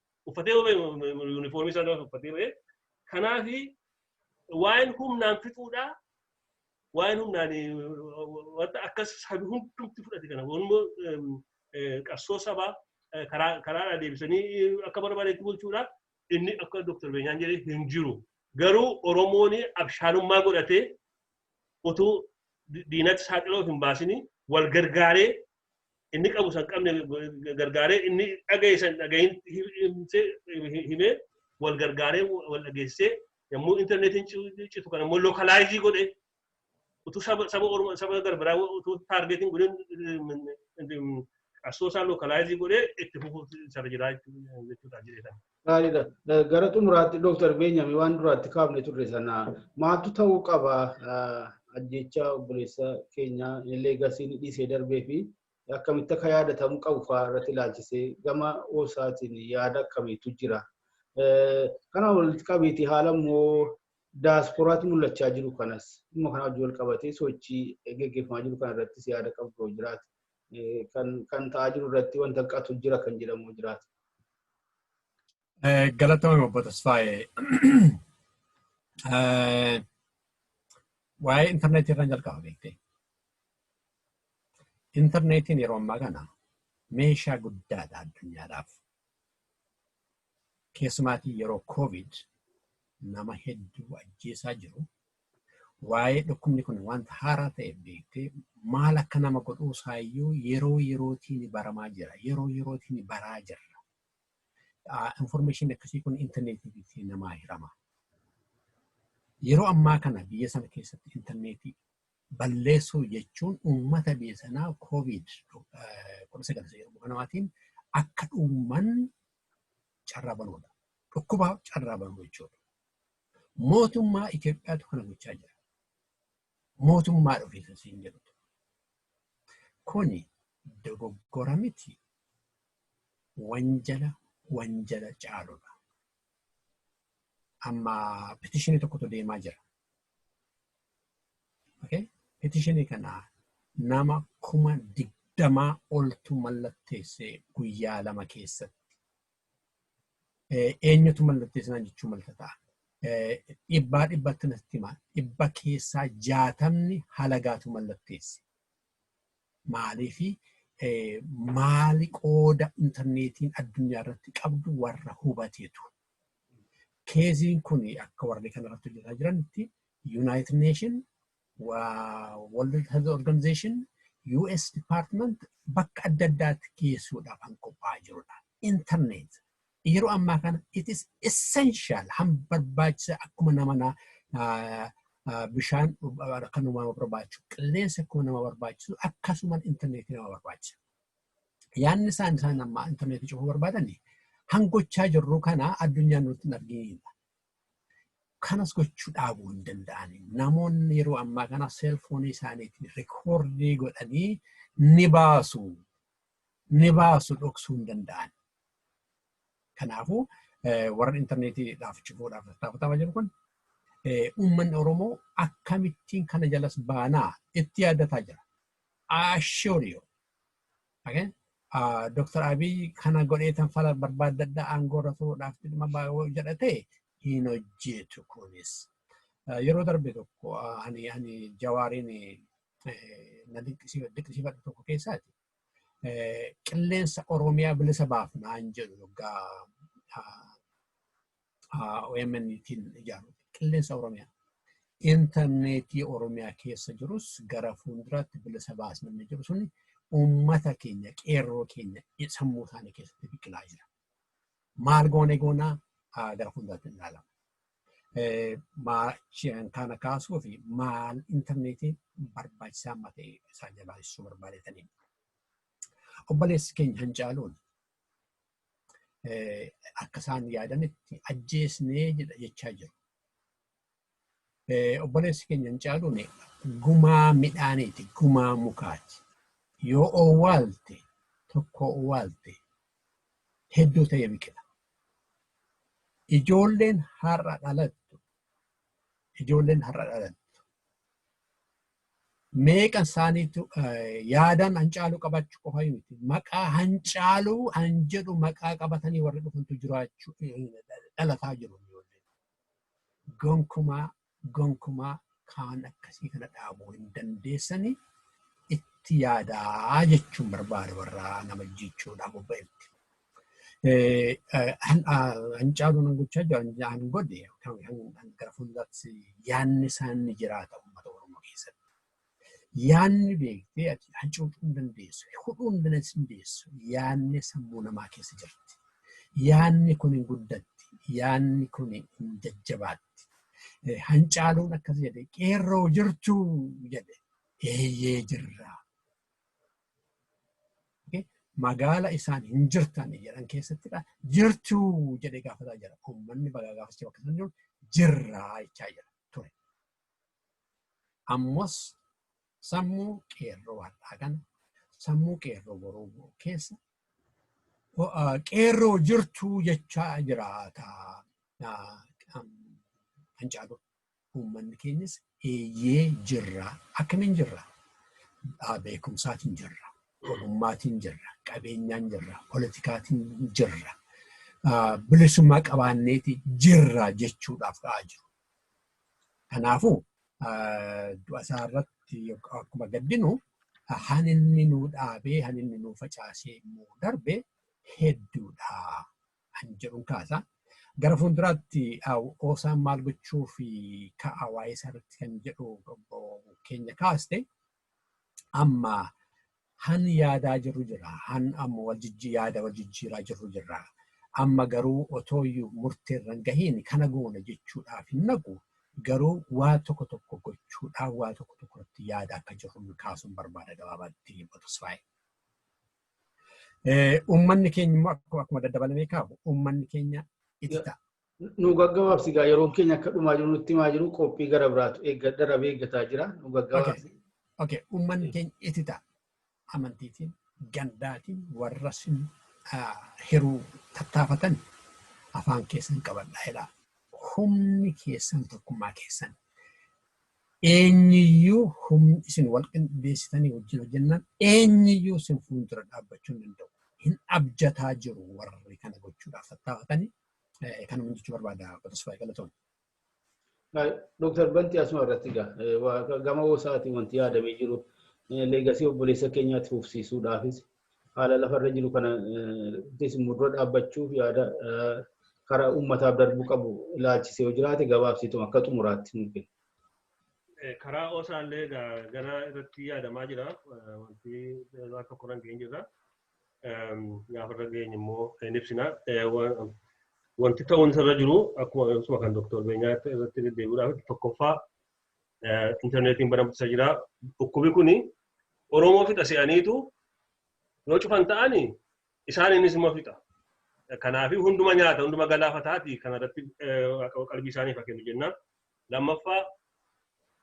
uffatee ba'e yuunifoormii isaa gaafa uffatee ba'e kanaaf waa'een humnaan fixuudhaa waa'een humnaan wanta akkas sabi hundumti fudhate kana waanuma qabsoo sabaa karaa karaadhaa deebisanii akka barbaadetti bulchuudhaa inni akka Dr. Beenyaan jedhe hin jiru. Garuu Oromoon abshaalummaa godhatee utuu diinatti saaxiloo hin baasini wal gargaaree inni qabu san qabne gargaaree inni dhagaye san dhagayin himee wal gargaaree wal dhageessee yommuu intarneetiin citu kan ammoo lokalaayizii godhe utuu saba saba orma saba garbiraa utuu taargeetiin godheen qabsoo isaa lokalaayizii godhee itti fufuuf sarara jiraa jechuudha jedheetan. Gaariidha. Gara xumuraatti Dooktar Beenyaamii waan duraatti kaafne turre sana maaltu ta'uu qaba ajjeechaa obboleessa keenyaa illee gasiin dhiisee darbee fi akkamitti akka yaadatamuu qabu fa'aa irratti ilaalchisee gama oosaatiin yaada akkamiitu jira. Kana walitti qabiitii haala immoo daasporaatti mul'achaa jiru kanas dhimma kana wajjin wal qabatee sochii gaggeeffamaa jiru kana irrattis yaada qabdu jiraate kan ta'aa jiru irratti wanta hanqatu jira kan jedhamu jiraata. Galatoomi obbo Tasfaayee. Waa'ee intarneetii irraan jalqaba beektee. Intarneetiin yeroo ammaa kana meeshaa guddaadha addunyaadhaaf. keessumaatii yeroo covid nama hedduu ajjeesaa jiru waa'ee dhukkubni kun wanta haaraa ta'e beektee maal akka nama godhuu isaayyuu yeroo yerootiin baramaa jira yeroo yerootiin baraa jirra information akkasii kun intarneetiitti namaa hirama yeroo ammaa kana biyya sana keessatti intarneetii balleessuu jechuun uummata biyya sanaa koovid kudha sagal isa jedhamu kanaatiin akka dhuman carraa banuudha. Dhukkuba carraa banuu jechuudha. Mootummaa Itoophiyaatu kana gochaa jira. Mootummaa dhufiisa siin jedhutu. Kuni dogoggora miti wanjala wanjala caaludha. Amma petishinii tokkotu deemaa jira. Okay? Petitionii kana nama kuma digdamaa oltu mallatteesse guyyaa lama keessatti. Eh, Eenyutu mallatteessinaan jechuu malta ta'a. Eh, Dhibbaa dhibbatti natti hima. Dhibba keessaa jaatamni halagaatu mallatteesse. Maaliif maali qooda intarneetiin addunyaa irratti qabdu warra hubateetu. Keeziin kun akka warri kana irratti hojjetaa jiranitti Yuunaayitid Neeshin, World Health Organization, US Department bakka adda addaatti geessuudhaaf kan qophaa'aa jirudha. Intarneet yeroo ammaa kana it is essential han barbaachisa akkuma nama na ah, ah, bishaan ah, kan nama barbaachisu qilleensa akkuma nama barbaachisu akkasuma intarneetii nama barbaachisa. Yaanni isaan isaan amma intarneetii cufuu barbaadani hangochaa jirru kana addunyaan nutti hin arginidha. Kanas gochuu dhaabuu hin danda'ani. Namoonni yeroo ammaa kana seelfoonii isaaniitiin rikoordii godhanii ni baasu. ni baasu dhoksuu hin danda'an. Kanaafuu warra intarneetiidhaaf cufuudhaaf tattaafatamaa jiru kun uummanni Oromoo akkamittiin kana jalas baanaa itti yaaddataa jira. Ashurio. Okay? Dr. Abiy kana godhee tan fala barbaaddadda aangoo irra turuudhaaf dhimma baay'oo jedhate hin hojjetu kunis. Yeroo darbe tokko ani ani jawaariin na dinqisiifadhu tokko keessaati. qilleensa Oromiyaa bilisa baafnaan jedhu yoggaa OMN-tiin ijaaru qilleensa Oromiyaa. Intarneetii Oromiyaa keessa jirus gara fuulduraatti bilisa baasnaan jedhu suni uummata keenya qeerroo keenya sammuu isaanii keessatti biqilaa jira. Maal goone goonaa gara fuulduraatti hin ilaalama. Maachiin kana kaasuu fi maal intarneetii barbaachisaa amma ta'e isaan jalaa ibsuu barbaadetanii. Obboleessi keenya hin caaluun akka isaan yaadanitti ajjeesnee jechaa jiru. Obboleessi keenya hin caaluun gumaa midhaaniiti, gumaa mukaati. Yoo owwaalte tokko owwaalte hedduu ta'ee biqila. Ijoolleen har'a dhalattu ijoolleen har'a dhalattu meeqan isaaniitu yaadaan hancaaluu qabaachuu qofa miti. Maqaa hancaaluu han jedhu maqaa qabatanii warri dhufantu jiraachuu dhalataa jiru. gonkumaa gonkumaa kaan akkasii kana dhaabuu hin dandeessanii itti yaadaa jechuun barbaada warraa nama jechuudhaan bobba'etti. Hancaaluu nan gochaa jiru hanjaan godhe gara fuulduraatti yaanni isaan ni jiraata uummata Oromoo keessatti. Yaanni beektee ati hacuucuu hin dandeessu, hudhuu hin dandeessu. Yaanni sammuu namaa keessa jirti. Yaanni kun hin guddatti. Yaanni kun hin jajjabaatti. Hancaaluun akkas jedhe qeerroo jirtuu jedhe eeyyee jirraa. Magaala isaan hin jirtan jedhan keessattidha. Jirtuu jedhe gaafataa jira. Uummanni bagaa gaafachuu akka isaan jiru jirraa jechaa jira ture. Ammas sammuu qeerroo har'aa kana sammuu qeerroo boruu immoo keessa ah, qeerroo jirtuu jechaa jiraata. Ah, am, Kan caalu uummanni keenyas eeyyee jirra. Akkamiin jirra? Ah, Beekumsaatiin jirra. Ogummaatiin jirra. Qabeenyaan jirra. Politikaatiin jirra. Ah, Bilisummaa qabaanneeti jirra jechuudhaaf ka'aa jiru. Kanaafuu du'a isaa irratti akkuma gaddinu han inni nuu dhaabee han inni nuu facaasee immoo darbe hedduudha han jedhuun kaasa. Gara fuulduraatti oosaan maal gochuuf ka'a waa'ee isaa irratti kan jedhu keenya kaaste Amma han yaadaa jirru jira. Han amma wal jijji yaada wal jijjiiraa jirru jirra. Amma garuu otoo iyyuu murtee irra hin gahiin kana goona jechuudhaaf hin naqu. Garuu waa tokko tokko gochuudhaan waa tokko tokko irratti yaada akka jirru kaasuun barbaada gabaabaatti Obbo Tasfaayee. Uummanni keenya immoo akkuma daddabalamee kaahu uummanni keenya itti ta'a. Nu gaggabaabsi gaa yeroon keenya akka dhumaa jiru nutti himaa jiru qophii gara biraatu eeggadha rabee eeggataa jira nu gaggabaabsi. Okay, uummanni keenya itti ta'a. Amantiitiin, gandaatiin warra sin hiruu tattaafatan afaan keessan qabadhaa jedhaa. Humni keessan tokkummaa keessan. Eenyuyyuu humni isin wal qindeessitanii wajjin hojjennaan eenyuyyuu isin fuuldura dhaabbachuu hin danda'u. Hin abjataa jiru warri kana gochuudhaaf tattaafatanii Kanuma jechuu barbaada Tasfaayee Galatoon. Dooktar Bantii asuma irratti egaa gama hoosaatiin wanti yaadamee jiru leegasii obboleessa keenyaatti fufsiisuudhaafis haala lafarra jiru kana ittis immoo dura dhaabbachuuf yaada karaa uummataaf darbuu qabu ilaalchisee yoo jiraate gabaabsiitu akka xumuraatti nuuf kenna. Karaa hoosaallee gara irratti yaadamaa jira wanti waan tokko irra hin jirra. gaafa irra geenye immoo hin ibsina. Wanti ta'uun isarra jiru akkuma kan Dr. Beenyaa irratti deddeebi'uudhaaf tokkoffaa intarneetiin baramtisa jira. Dhukkubi kun Oromoo fixa se'aniitu yoo cufan ta'ani isaaniinis immoo fixa. Kanaaf hunduma nyaata, hunduma galaafataati kanarratti qalbii isaaniif kennu jenna. Lammaffaa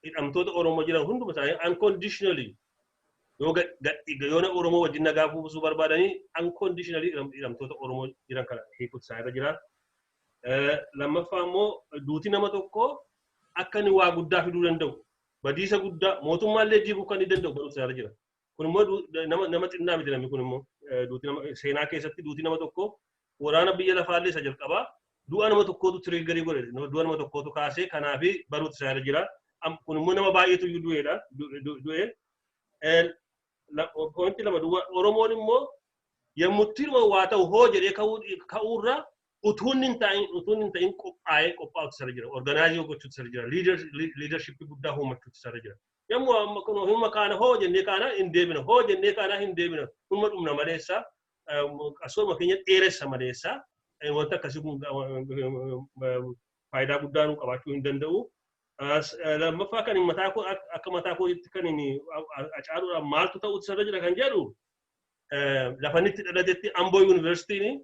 hidhamtoota Oromoo jiran hunduma isaanii unconditionally yoo yoona Oromoo wajjin nagaa buusuu barbaadanii unconditionally hidhamtoota Oromoo jiran kana hiikuutu isaa irra jira. Lammaffaa immoo duuti nama tokkoo akka inni waa guddaa fiduu danda'u badiisa guddaa mootummaallee diiguu kan inni danda'u barumsa irra jira. Kun immoo du- nama nama xinnaa miti namni kun immoo Eh, duuti nama seenaa keessatti duuti nama tokko waraana biyya lafaallee isa jalqabaa du'a nama tokkootu tiriiggarii godhe Nama- du'a nama tokkootu kaasee kanaaf baruutti isaa irra jira. Am- Kun immoo nama baay'eetu iyyuu du'eedha du- du- du'e. Eh, la- Pointi lama duwwa Oromoon immoo yommutti waa ta'u hoo jedhee ka'uu- ka'uurra utuu inni hin ta'in utuu inni hin ta'in qophaa'ee qophaa'uutti isa irra jira. Organaayizii gochuutti isa irra jira. Liidarshippii guddaa uumachuutti isa irra jira. Yammu amma kun humma kaana hoo jennee kaana hin deebina hoo jennee kaana hin deebina humma dhumna maleessa qasooma keenya dheeressa maleessa wanta akkasii kun faayidaa guddaa nu qabaachuu hin danda'u. Lammaffaa kan mataa koo akka mataa kootti kan acaaluudhaan maaltu ta'uutti sarara jira kan jedhu lafannitti dhalatetti Amboo Yuunivarsiitiin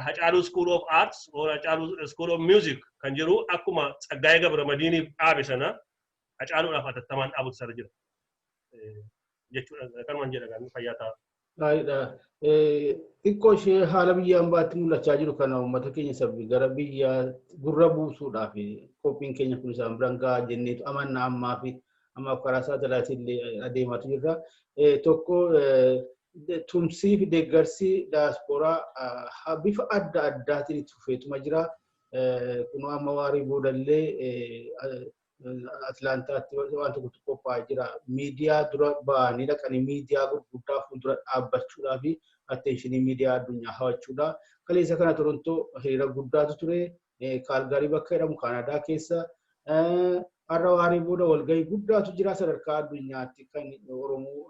Hacaaluu School of Arts or Hacaaluu School of Music kan jedhu akkuma Tsaggaayee Gabramadiiniif dhaabe sana Hacaaluudhaaf atattamaan dhaabutu isarra jira. Jechuudha kanumaan jedha gaanii fayyaa ta'a. Gaariidha. Xiqqoo ishee haala biyya ambaatti mul'achaa jiru kana uummata keenya sabbi gara biyya gurra buusuudhaaf qophiin keenya kun isaan biraan gahaa jenneetu amanna ammaa fi ammaaf karaa saatalaatii illee adeemaatu jirra. Tokko tumsii fi deeggarsi daayaspooraa bifa adda addaatiin itti fufeetuma jira. Kunoo amma waarii boodallee Atlaantaatti waan tokko tokko qophaa'ee jira. Miidiyaa dura ba'anii dhaqanii miidiyaa gurguddaa fuuldura dhaabbachuudhaa fi atteenshinii miidiyaa addunyaa hawachuudha. Kaleessa kana Torontoo hiriira guddaatu ture. Kaalgaarii bakka jedhamu Kaanaadaa keessa har'a waaree booda walgahii guddaatu jira sadarkaa addunyaatti kan Oromoo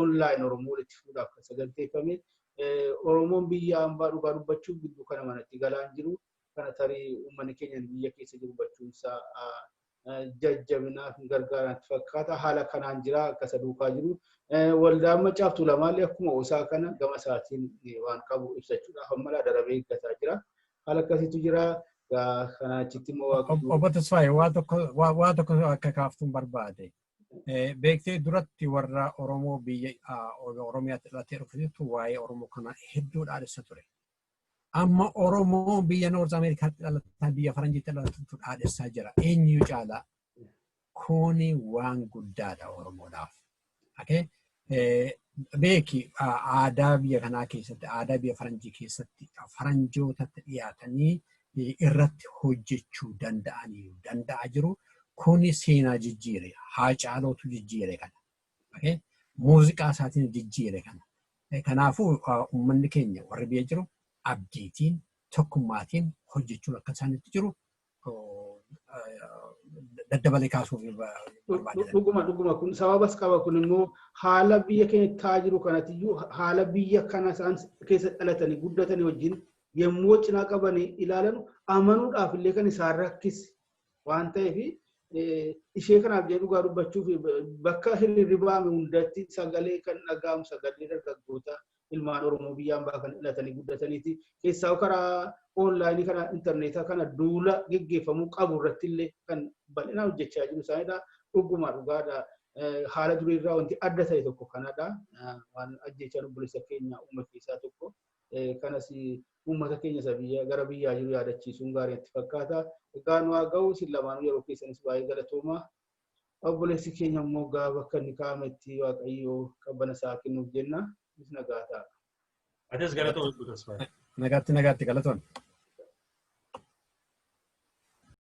online Oromoo walitti fuudhaaf kan saganteeffame. Oromoon biyya ambaa dhugaa dubbachuuf gidduu kana manatti galaan jiru. kana tarii uummanni keenya biyya keessa jiru hubachuunsaa jajjabinaaf hin gargaara natti fakkaata. Haala kanaan jira akka isa duukaa jiru. Waldaan Maccaaf Tuulamaallee akkuma osaa kana gama isaatiin waan qabu ibsachuudhaaf ammalaa darabee eeggataa jira. Haala akkasiitu jira. Kana achitti immoo waaqayyo. Obbo Tasfaayee waa tokko waa tokko akka kaaftuun barbaade. Beektee duratti warra Oromoo biyya Oromiyaatti dhalatee dhufetu waa'ee Oromoo kana hedduu dhaadhessa ture. Amma Oromoo biyya Noorz Ameerikaatti dhalataan biyya Faranjiitti dhalatutu dhaadhessaa jira. Eenyu caalaa? Kuni waan guddaadha Oromoodhaaf. Okay? Beeki aadaa biyya kanaa keessatti, aadaa biyya Faranjii keessatti Faranjootatti dhiyaatanii irratti hojjechuu danda'aniiru, danda'aa jiru. Kuni seenaa jijjiire, haacaalootu jijjiire kana. Okay? Muuziqaa isaatiin jijjiire kana. Eh, Kanaafuu ah, uummanni keenya warri biyya jiru abdiitiin tokkummaatiin hojjechuun akka isaanitti jiru oh, ah, daddabalee kaasuuf eh, barbaada. Dhuguma dhuguma kun sababas qaba kun immoo haala biyya keenya ta'aa jiru kanatiyyuu haala biyya kana isaan keessa dhalatanii guddatanii wajjin yommuu cinaa qabanii ilaalan amanuudhaaf illee kan isaan rakkise waan ta'eef ishee kanaaf jedhee dhugaa dubbachuuf bakka hirribaame hundatti sagalee kan dhaga'amu sagalee dargaggoota ilmaan Oromoo biyyaan baa kan dhalatanii guddataniiti. Keessaa karaa oonlaayinii kana intarneetaa kana duula geggeeffamuu qabu irratti illee kan bal'inaan hojjechaa jiru isaanidha. Dhugumaa dhugaadha. Haala durii irraa wanti adda ta'e tokko kanadha. Waan ajjechaan obboleessa keenya uume keessaa tokko. kanas uummata keenya isa biyya gara biyyaa jiru yaadachiisuun gaarii natti fakkaata. Egaa nu haa ga'u isin lamaanuu yeroo keessanis baay'ee galatoomaa. Obboleessi keenya immoo gaa bakka inni kaa'ametti Waaqayyo qabbana isaa kennuuf jenna. Inis nagaa ta'a. Atis galatoomi Obbo Tasfaayee. Nagaatti nagaatti galatoon.